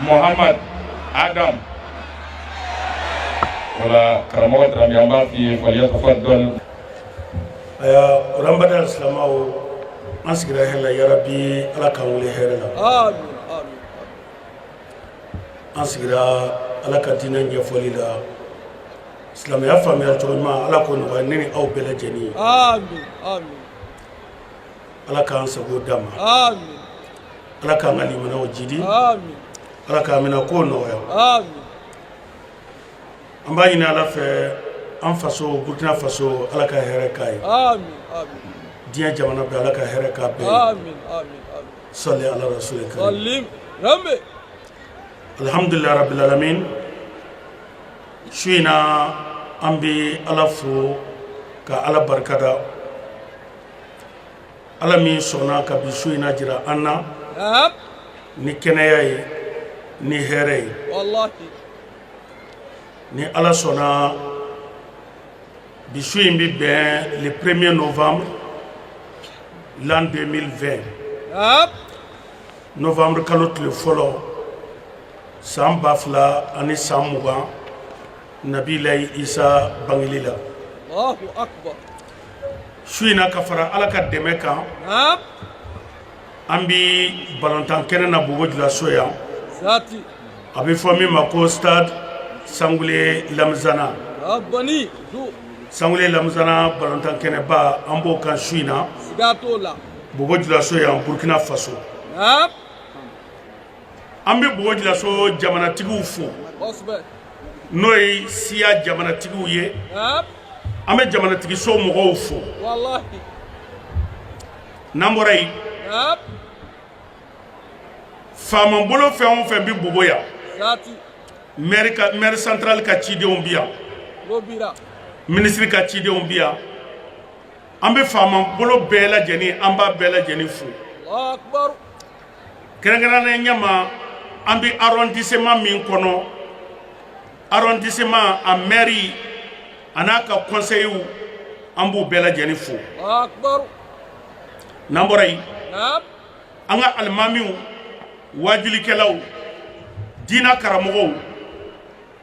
Muhammad Adam wala karamɔgɔ Dramé an b'a f'i ye falyatafaddal ayiwa an baden silamaw an sigira hɛrɛ la yarabi ala k'an wuli hɛrɛ la amin amin an sigira ala ka diinɛ ɲɛfɔli la silamɛya faamuya cogo ɲuman ala k'o nɔgɔya ne ni aw bɛɛ lajɛlen ye amin amin ala k'an sago d'an ma ala k'an ka limanaw jidi ala k'an minɛ ko nɔgɔya an b'a ɲini ala fɛ an faso burkina faso ala ka hɛrɛ k'a ye diɲɛ jamana bɛɛ ala ka hɛrɛ k'a bɛɛ ye sali ala rasuli karim alhamdulilayi rabbil alamin su in na an bɛ ala fo ka ala barikada ala min sɔnna ka bi su in na jira an na ni kɛnɛya ye ni hɛrɛ ye ni ala sɔnna bi su in bɛ bɛn le premier novembre l'an 2020 novembre kalo tile fɔlɔ san ba fila ani san mugan nabilayi isa bangeli la su in na ka fara ala ka dɛmɛ kan an bɛ balontan kɛnɛ na bobo julaso yan a bɛ fɔ min ma ko stade sangule lamizana sangule lamizana balontan kɛnɛba an b'o kan su in na bobo julaso yan burkina faso an bɛ bobo julaso jamanatigiw fo n'o ye siya jamanatigiw ye an bɛ jamanatigiso mɔgɔw fo n'an bɔra yen faama bolo fɛn o fɛn bɛ bobo yan maire central ka cidenw bi yan ministre ka cidenw bi yan an bɛ faama bolo bɛɛ lajɛlen an b'a bɛɛ lajɛlen fo kɛrɛnkɛrɛnnenya ɲɛma an bɛ arrondissement min kɔnɔ arrondissement a maire a n'a ka conseillers an b'u bɛɛ lajɛlen fo n'an bɔra yen an ka alimamiw waajilikɛlaw diina karamɔgɔw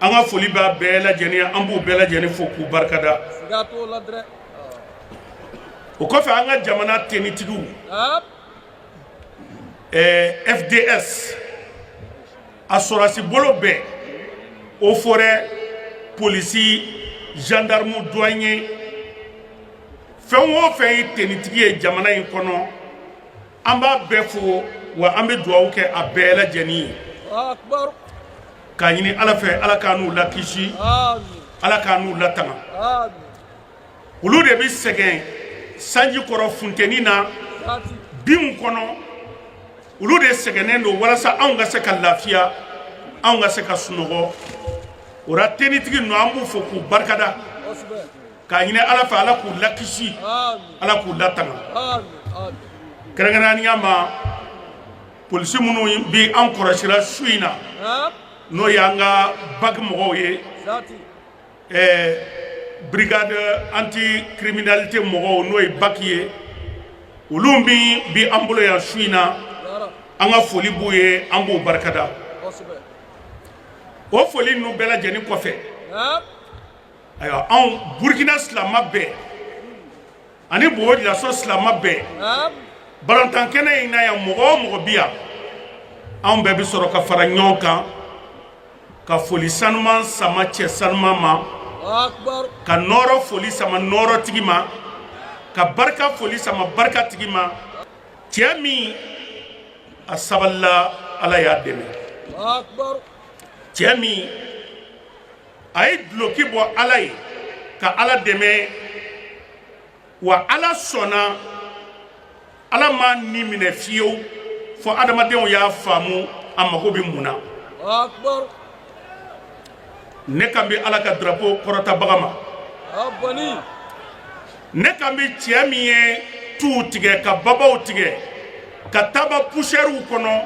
an ka foli b'a bɛɛ lajɛlen ye an b'u bɛɛ lajɛlen fo k'u barikada o kɔfɛ an ka jamana tenitigiw fds a sɔrɔsi bolo bɛɛ o forɛ polisi zandarimu duwanye fɛn o fɛn ye tenitigi ye jamana in kɔnɔ an b'a bɛɛ fo wa an bɛ dugawu kɛ a bɛɛ lajɛlen ye k'a ɲini ala fɛ ala k'an n'u lakisi ala k'an n'u latanga olu de bɛ sɛgɛn sanji kɔrɔ funteni na binw kɔnɔ olu de sɛgɛnnen don walasa anw ka se ka lafiya anw ka se ka sunɔgɔ o la tenitigi ninnu an b'u fo k'u barikada k'a ɲini ala fɛ ala k'u lakisi ala k'u latanga kɛrɛnkɛrɛnnenya ma polisi minnu bɛ an kɔrɔsira su in na n'o y'an ka baki mɔgɔw ye ɛɛ brigade anti criminalité mɔgɔw n'o ye baki ye olu min bi an bolo yan su in na an ka foli b'u ye an b'u barikada o foli ninnu bɛɛ lajɛlen kɔfɛ ayiwa anw burkina silama bɛɛ ani bobo julaso silama bɛɛ balontan kɛnɛ in na yan mɔgɔ o mɔgɔ bi yan anw bɛɛ bɛ sɔrɔ ka fara ɲɔgɔn kan ka foli sanuman sama cɛ sanuman ma ka nɔɔrɔ foli sama nɔɔrɔ tigi ma ka barika foli sama barika tigi ma cɛ min a sabalila ala y'a dɛmɛ cɛ min a ye duloki bɔ ala ye ka ala dɛmɛ wa ala sɔnna ala m'a ni minɛ fiyewu fo adamadenw y'a faamu a mago bɛ mun na ne kan bɛ ala ka drapo kɔrɔtabaga ma ne kan bɛ cɛ min ye tuw tigɛ ka babaw tigɛ ka taama pusɛriw kɔnɔ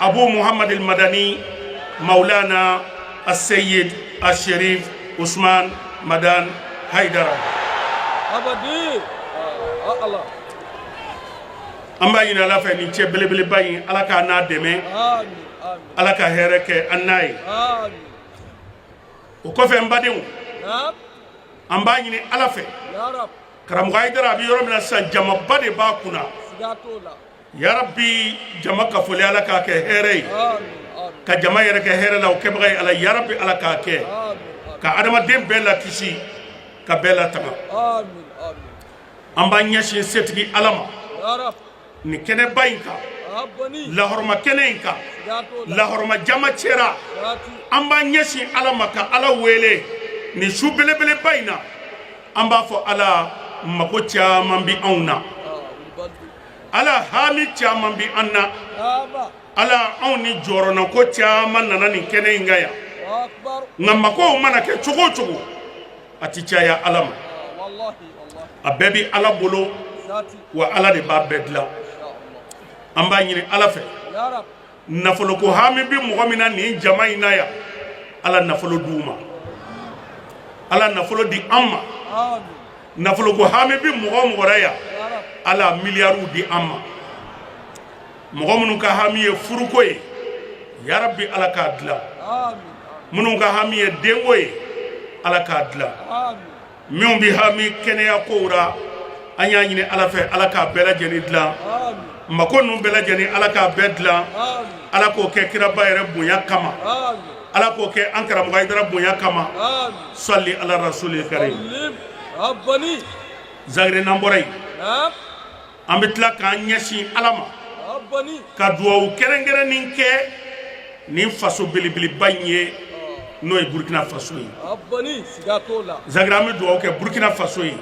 Abu Muhammad al-Madani Maulana As-Sayyid Al-Sharif Usman Madan Haidara Abadi ah, Allah an b'a ɲini ala fɛ nin cɛ belebeleba in ala k'an n'a dɛmɛ ala ka hɛrɛ kɛ an n'a ye o kɔfɛ n badenw an b'a ɲini ala fɛ karamɔgɔ Hayidara a bɛ yɔrɔ min na sisan jamaba de b'a kunna yarabi jama ka foli ala k'a kɛ hɛrɛ ye ka jama yɛrɛ kɛ hɛrɛ la o kɛbaga ye ala yarabi ala k'a kɛ ka adamaden bɛɛ lakisi ka bɛɛ latanga an b'an ɲɛsin setigi ala ma nin kɛnɛba in kan lahɔrɔma kɛnɛ in kan lahɔrɔma jama cɛra an b'an ɲɛsin ala ma ka ala wele nin su belebeleba in na an b'a fɔ ala mago caman bi anw na ala hami caman bɛ an na ala anw ni jɔrɔnako caman nana nin kɛnɛ in kan yan nka makow mana kɛ cogo o cogo a tɛ caya ala ma a bɛɛ bɛ ala bolo wa ala de b'a bɛɛ dilan an b'a ɲini ala fɛ nafolo ko hami bɛ mɔgɔ min na nin jama in na yan ala nafolo d'u ma ala nafolo di an ma nafolo ko hami bɛ mɔgɔ o mɔgɔ ra yan ala miliyariw di an ma mɔgɔ minnu ka hami ye furuko ye yarabi ala k'a dilan minnu ka hami ye denko ye ala k'a dilan minnu bɛ hami kɛnɛya kow la an y'a ɲini ala fɛ ala k'a bɛɛ lajɛlen dilan mako ninnu bɛɛ lajɛlen ala k'a bɛɛ dilan ala k'o kɛ kiraba yɛrɛ bonya kama ala k'o kɛ an karamɔgɔ hayidara bonya kama sali ala rasuli karim zagre n'an bɔra yen an bɛ tila k'an ɲɛsin ala ma ka dugawu kɛrɛnkɛrɛnnen kɛ nin faso belebeleba in ye n'o ye burukina faso ye zagre an bɛ dugawu kɛ burukina faso ye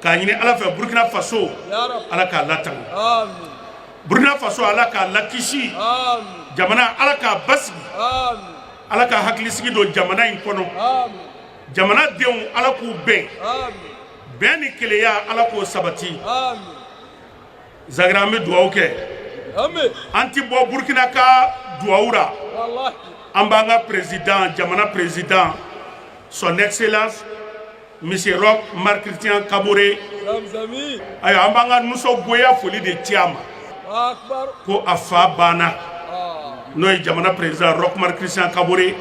k'a ɲini ala fɛ burukina faso ala k'a latanga burukina faso ala k'a lakisi jamana ala k'a basigi ala ka hakilisigi don jamana in kɔnɔ jamana denw ala k'u bɛn bɛn ni kelenya ala k'o sabati zagre an bɛ dugawu kɛ an ti bɔ burkina ka dugawu la an b'an ka président jamana président son excellence monsieur roch marc christian kaboré ayiwa an b'an ka nisɔngoya foli de ci a ma ko a fa banna n'o ye jamana président roch marc christian kaboré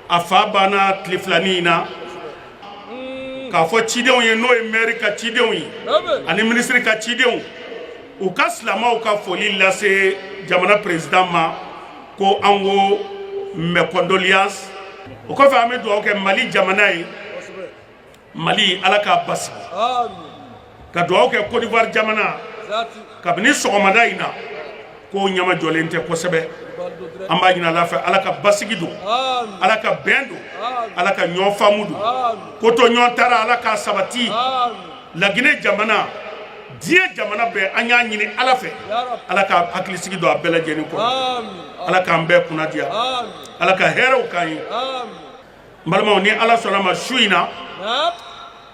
a fa banna tile filanin in na k'a fɔ cidenw ye n'o ye mɛri ka cidenw ye ani minisiri ka cidenw u ka silamɛw ka foli lase jamana perezidan ma ko an ko mes condoléances o kɔfɛ an bɛ dugawu kɛ mali jamana ye mali ala k'a basigi ka dugawu kɛ Côte d'Ivoire jamana kabini sɔgɔmada in na k'o ɲama jɔlen tɛ kosɛbɛ an b'a ɲini Ala fɛ Ala ka basigi don Ala ka bɛn don Ala ka ɲɔgɔn faamu don kotoɲɔgɔntara Ala k'a sabati Laginɛ jamana diɲɛ jamana bɛɛ an y'a ɲini Ala fɛ Ala ka hakilisigi don a bɛɛ lajɛlen kɔnɔ Ala k'an bɛɛ kunna diya Ala ka hɛrɛw k'an ye n balimaw ni Ala sɔnn'a ma su in na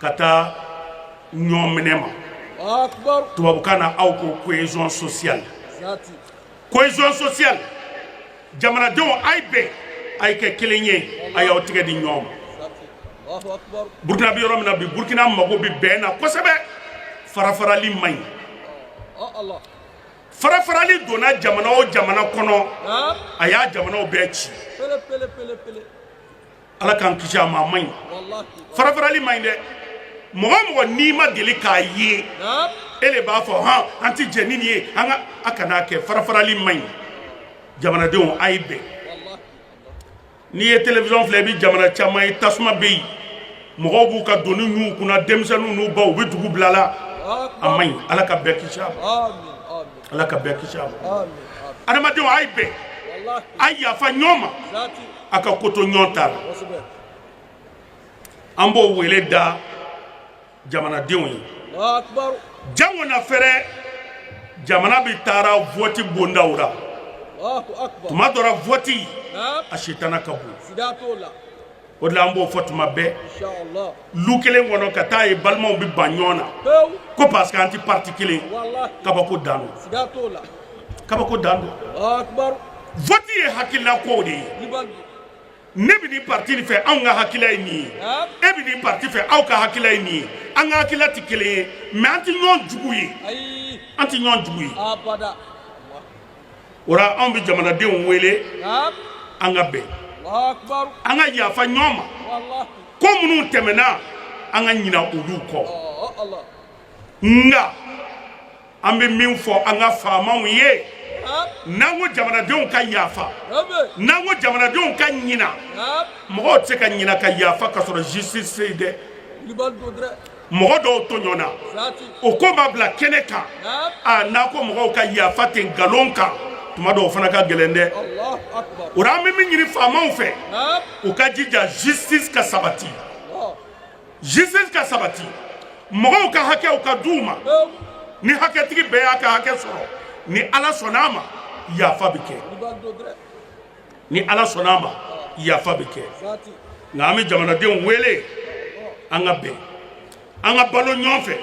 ka taa ɲɔgɔn minɛ ma tubabukan na aw ko cohésion sociale cohésion sociale jamanadenw a ye bɛn a ye kɛ kelen ye a y'aw tigɛ di ɲɔgɔn ma burukina bɛ yɔrɔ min na bi burukina mago bɛ bɛn na kosɛbɛ farafarali man ɲi farafarali donna jamana o jamana kɔnɔ a y'a jamanaw bɛɛ ci ala k'an kisi a ma a man ɲi farafarali man ɲi dɛ mɔgɔ o mɔgɔ n'i ma deli k'a ye e de b'a fɔ hɔn an tɛ jɛ ni nin ye an ka a kan'a kɛ farafarali man ɲi jamanadenw a ye bɛn n'i ye télévision filɛ i bɛ jamana caman ye tasuma bɛ yen mɔgɔw b'u ka doni ɲun u kun na denmisɛnninw n'u baw u bɛ dugu bila la a man ɲi ala ka bɛɛ kisi a ma ala ka bɛɛ kisi a ma adamadenw a ye bɛn a yafa ɲɔgɔn ma a ka ko to ɲɔgɔn ta la an b'o wele da jamanadenw ye jango n'a fɛrɛ jamana bɛ taara vɔti bondaw la tuma dɔ ra vɔti a sitana ka bon o de la an b'o fɔ tuma bɛɛ lu kelen kɔnɔ ka taa ye balimaw bɛ ban ɲɔgɔn na ko parce que an tɛ parti kelen kabako dan don kabako dan don vote ye hakilila ko de ye ne bɛ nin parti nin fɛ anw ka hakilila ye nin ye e bɛ nin parti fɛ aw ka hakilila ye nin ye an ka hakilila tɛ kelen ye mais an tɛ ɲɔgɔn jugu ye an tɛ ɲɔgɔn jugu ye. o la anw bɛ jamanadenw wele an ka bɛn an ka yafa ɲɔgɔn ma ko minnu tɛmɛna an ka ɲina olu kɔ nka an bɛ min fɔ an ka faamaw ye n'an ko jamanadenw ka yafa n'an ko jamanadenw ka ɲina mɔgɔw tɛ se ka ɲina ka yafa ka sɔrɔ justice tɛ mɔgɔ dɔw tɔɲɔna o ko ma bila kɛnɛ kan a n'a ko mɔgɔw ka yafa ten nkalon kan tuma dɔw fana ka gɛlɛn dɛ o la an bɛ min ɲini faamaw fɛ u ka jija justice ka sabati justice ka sabati mɔgɔw ka hakɛw ka d'u ma ni hakɛtigi bɛɛ y'a ka hakɛ sɔrɔ ni ala sɔnn'a ma yafa bɛ kɛ ni ala sɔnna a ma yafa bɛ kɛ nka an bɛ jamanadenw wele an ka bɛn an ka balo ɲɔgɔn fɛ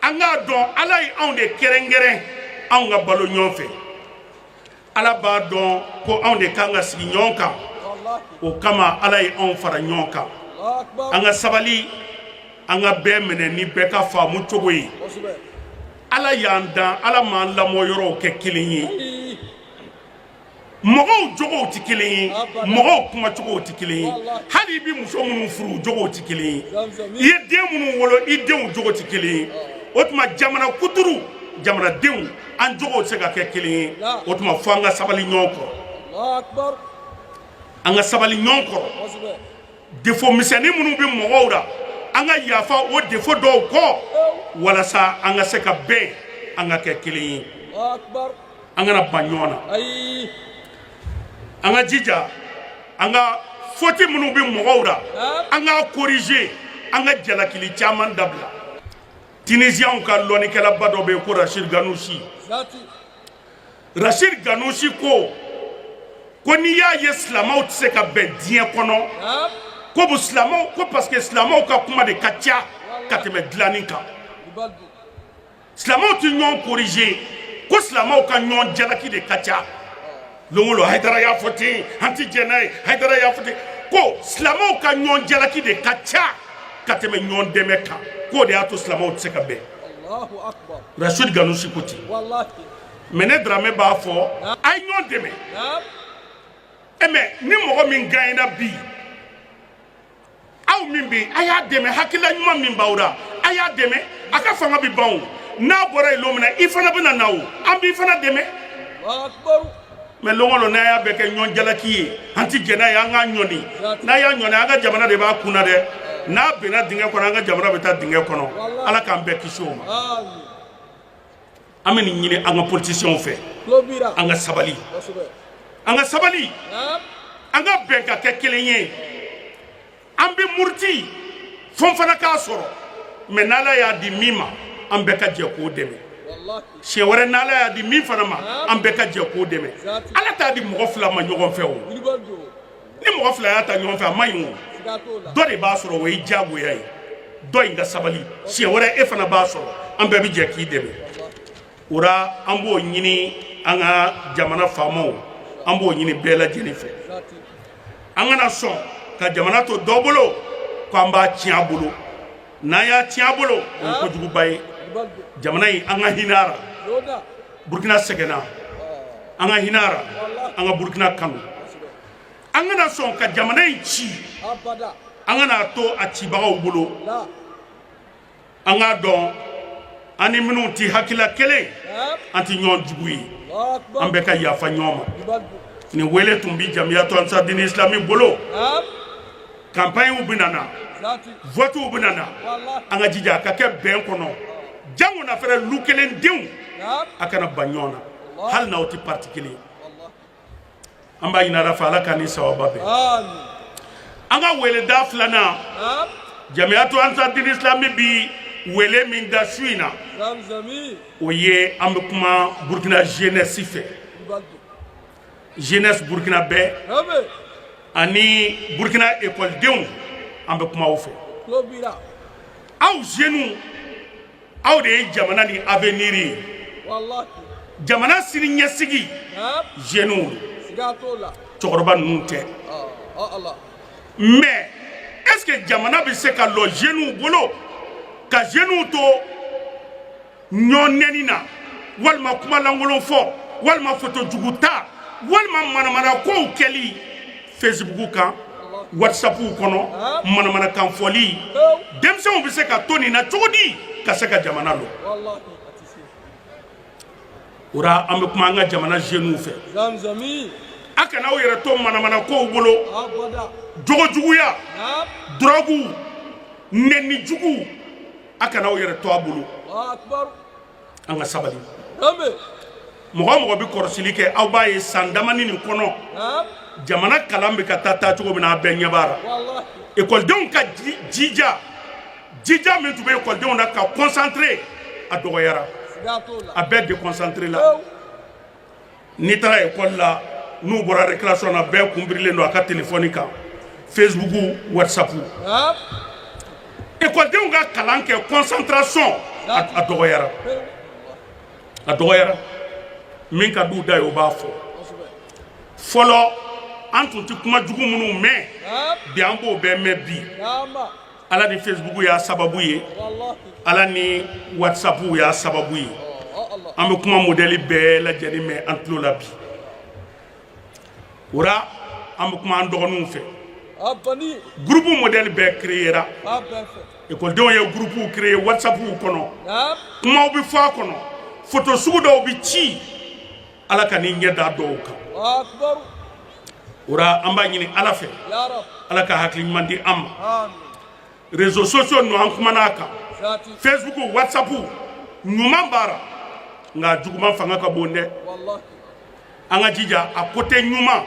an k'a dɔn ala ye anw de kɛrɛnkɛrɛn anw ka balo ɲɔgɔn fɛ ala b'a dɔn ko anw de kan ka sigi ɲɔgɔn kan o kama ala ye anw fara ɲɔgɔn kan an ka sabali an ka bɛɛ minɛ ni bɛɛ ka faamu cogo ye ala y'an dan ala m'an lamɔyɔrɔw kɛ kelen ye mɔgɔw jogow tɛ kelen ye mɔgɔw kumacogow tɛ kelen ye hali i bɛ muso minnu furu jogow tɛ kelen ye i ye den minnu wolo i denw jogo tɛ kelen ye o tuma jamana kuturu jamanadenw an jogow tɛ se ka kɛ kelen ye o tuma fo an ka sabali ɲɔgɔn kɔrɔ an ka sabali ɲɔgɔn kɔrɔ défaut misɛnnin minnu bɛ mɔgɔw la an ka yafa o défaut dɔw kɔ walasa an ka se ka bɛn an ka kɛ kelen ye an kana ban ɲɔgɔn na an ka jija an ka faute minnu bɛ mɔgɔw la an k'a corriger an ka jalakili caman dabila tunisiens ka lɔnnikɛlaba dɔ bɛ yen ko rachid ghannouchi rachid ghannouchi ko ko n'i y'a ye silamɛw tɛ se ka bɛn diɲɛ kɔnɔ ko bu silamɛw ko parce que silamɛw ka kuma de ka ca ka tɛmɛ dilanni kan silamɛw tɛ ɲɔgɔn corriger ko silamɛw ka ɲɔgɔn jalaki de ka ca lon o lon hayidara y'a fɔ ten an tɛ jɛn n'a ye hayidara y'a fɔ ten ko silamɛw ka ɲɔgɔn jalaki de ka ca ka tɛmɛ ɲɔgɔn dɛmɛ kan k'o de y'a to silamɛw tɛ se ka bɛn rachid ghannouchi ko ten mais ne daramɛ b'a fɔ a ye ɲɔgɔn dɛmɛ e mais ni mɔgɔ min gaɲɛna bi aw min bɛ a y'a dɛmɛ hakilila ɲuman min b'aw la a y'a dɛmɛ a ka fanga bɛ ban o n'a bɔra yen don min na i fana bɛna na o an b'i fana dɛmɛ mais lon o lon n'a y'a bɛɛ kɛ ɲɔgɔn jalaki ye an tɛ jɛn n'a ye an k'a ɲɔni n'a y'a ɲɔni an ka jamana de b'a kun na dɛ n'a binna dingɛ kɔnɔ an ka jamana bɛ taa dingɛ kɔnɔ ala k'an bɛɛ kisi o ma an bɛ nin ɲini an ka politiciens fɛ an ka sabali an ka sabali an ka bɛn ka kɛ kelen ye an bɛ muruti fo n fana k'a sɔrɔ mais n'ala y'a di min ma an bɛɛ ka jɛ k'o dɛmɛ siɲɛ wɛrɛ n'ala y'a di min fana ma an bɛɛ ka jɛ k'o dɛmɛ ala t'a di mɔgɔ fila ma ɲɔgɔn fɛ o ni mɔgɔ fila y'a ta ɲɔgɔn fɛ a man ɲi o dɔ de b'a sɔrɔ o ye diyagoya ye dɔ in ka sabali siɲɛ wɛrɛ e fana b'a sɔrɔ an bɛɛ bɛ jɛ k'i dɛmɛ o la an b'o ɲini an ka jamana faamaw an b'o ɲini bɛɛ lajɛlen fɛ an kana sɔn ka jamana to dɔ bolo k'an b'a tiɲɛ a bolo n'an y'a tiɲɛ a bolo o ye kojuguba ye jamana in an ka hinɛ a la burukina sɛgɛnna an ka hinɛ a la an ka burukina kanu an kana sɔn ka jamana in ci an kana to a cibagaw bolo an k'a dɔn an ni minnu tɛ hakilila kelen an tɛ ɲɔgɔn jugu ye an bɛɛ ka yafa ɲɔgɔn ma nin wele tun bɛ jamiyatu ansarudini isilami bolo campagnew bɛ na votew bɛ na an ka jija a ka kɛ bɛn kɔnɔ jango na fɛ lu kelen denw a kana ban ɲɔgɔn na hali n'aw tɛ parti kelen an b'a ɲini ala fɛ ala k'an ni sawaba bɛn an ka weleda filanan jamiyatu ansarudini islami bɛ wele min da su in na o ye an bɛ kuma burukina jeunesse fɛ jeunesse burkinabè ani burkina ekɔlidenw an bɛ kuma aw fɛ aw jeunes aw de ye jamana nin avenir ye jamana sini ɲɛsigi jeunes cɛkɔrɔba ninnu tɛ mais est ce que jamana bɛ se ka lɔ jeunes bolo ka jeunes to ɲɔgɔn nɛni na walima kuma lankolon fɔ walima foto jugu ta walima manamana kow kɛli facebook kan whatsapp kɔnɔ manamana kan fɔli denmisɛnw bɛ se ka to nin na cogo di ka se ka jamana lɔ o la an bɛ kuma an ka jamana jeunes fɛ a kana aw yɛrɛ to manamana kow bolo jogo juguya drogue nɛni jugu a kana aw yɛrɛ to a bolo an ka sabali mɔgɔ o mɔgɔ bɛ kɔrɔsili kɛ aw b'a ye san damani nin kɔnɔ jamana kalan bɛ ka taa taa cogo min na a bɛɛ ɲɛ b'a la ekɔlidenw ka jija jija min tun bɛ ekɔlidenw na ka concentré a dɔgɔyara a bɛɛ déconcentré la n'i taara ekɔli la n'u bɔra récréation na bɛɛ kunbirilen don a ka telefɔni kan facebook whatsapp ekɔlidenw ka kalan kɛ concentration a dɔgɔyara a dɔgɔyara min ka d'u da ye o b'a fɔ fɔlɔ an tun tɛ kuma jugu minnu mɛn bi an b'o bɛɛ mɛn bi ala ni facebook y'a sababu ye ala ni whatsapp y'a sababu ye an bɛ kuma modɛli bɛɛ lajɛlen mɛn an tulo la bi o la an bɛ kuma an dɔgɔninw fɛ gurupu modɛli bɛɛ kireyera ekɔlidenw ye gurupuw kireye whatsapp kɔnɔ kumaw bɛ fɔ a kɔnɔ foto sugu dɔw bɛ ci ala kan'i ɲɛ da dɔw kan o ra an b'a ɲini ala fɛ ala ka hakili ɲuman di an ma réseaux sociaux ninnu an kumana a kan facebook whatsapp ɲuman b'a ra nka juguman fanga ka bon dɛ an ka jija a côté ɲuman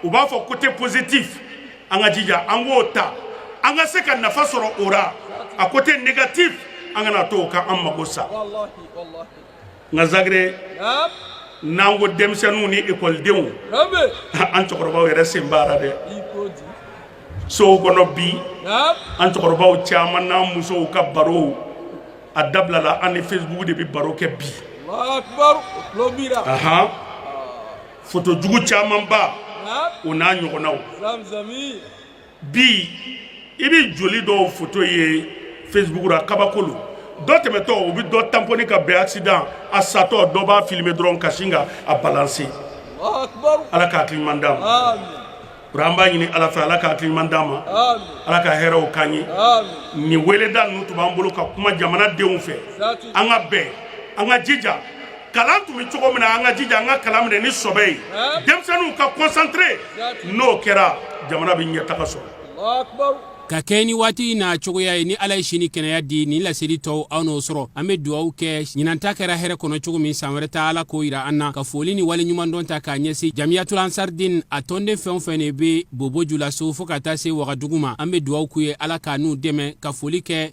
u b'a fɔ côté positif an ka jija an k'o ta an ka se ka nafa sɔrɔ o ra a côté négatif an kana to o ka an mago sa nka zagre n'an ko denmisɛnninw ni ekɔlidenw an cɛkɔrɔbaw yɛrɛ sen b'a ra dɛ sow kɔnɔ bi an cɛkɔrɔbaw caman n'an musow ka baro a dabilala an ni facebook de bɛ baro kɛ bi foto jugu camanba o n'a ɲɔgɔnnaw bi i bɛ joli dɔw foto ye facebook la kabako lo dɔ tɛmɛtɔ u bɛ dɔ tanpɔni ka bɛn accident a satɔ dɔ b'a filmer dɔrɔn ka sin ka a balancer ala ka hakili ɲuman d'an ma o ra an b'a ɲini ala fɛ ala ka hakili ɲuman d'an ma ala ka hɛrɛw k'an ye nin weleda ninnu tun b'an bolo ka kuma jamana denw fɛ an ka bɛn an ka jija kalan tun bɛ cogo min na an ka jija an ka kalan minɛ ni sɔbɛ ye denmisɛnninw ka concentré n'o kɛra jamana bɛ ɲɛtaga sɔrɔ ka kɛɲɛ ni waati n'a cogoya ye ni ala ye sini kɛnɛya di nin laseli tɔw aw n'o sɔrɔ an bɛ dugawu kɛ ɲinan ta kɛra hɛrɛ kɔnɔ cogo min san wɛrɛ ta ala k'o yira an na ka foli ni waleɲumandɔn ta k'a ɲɛsin jamiyatul ansardin a tɔnden fɛn o fɛn de bɛ bobo julaso fo ka taa se wagadugu ma an bɛ dugawu k'u ye ala k'an n'u dɛmɛ ka foli kɛ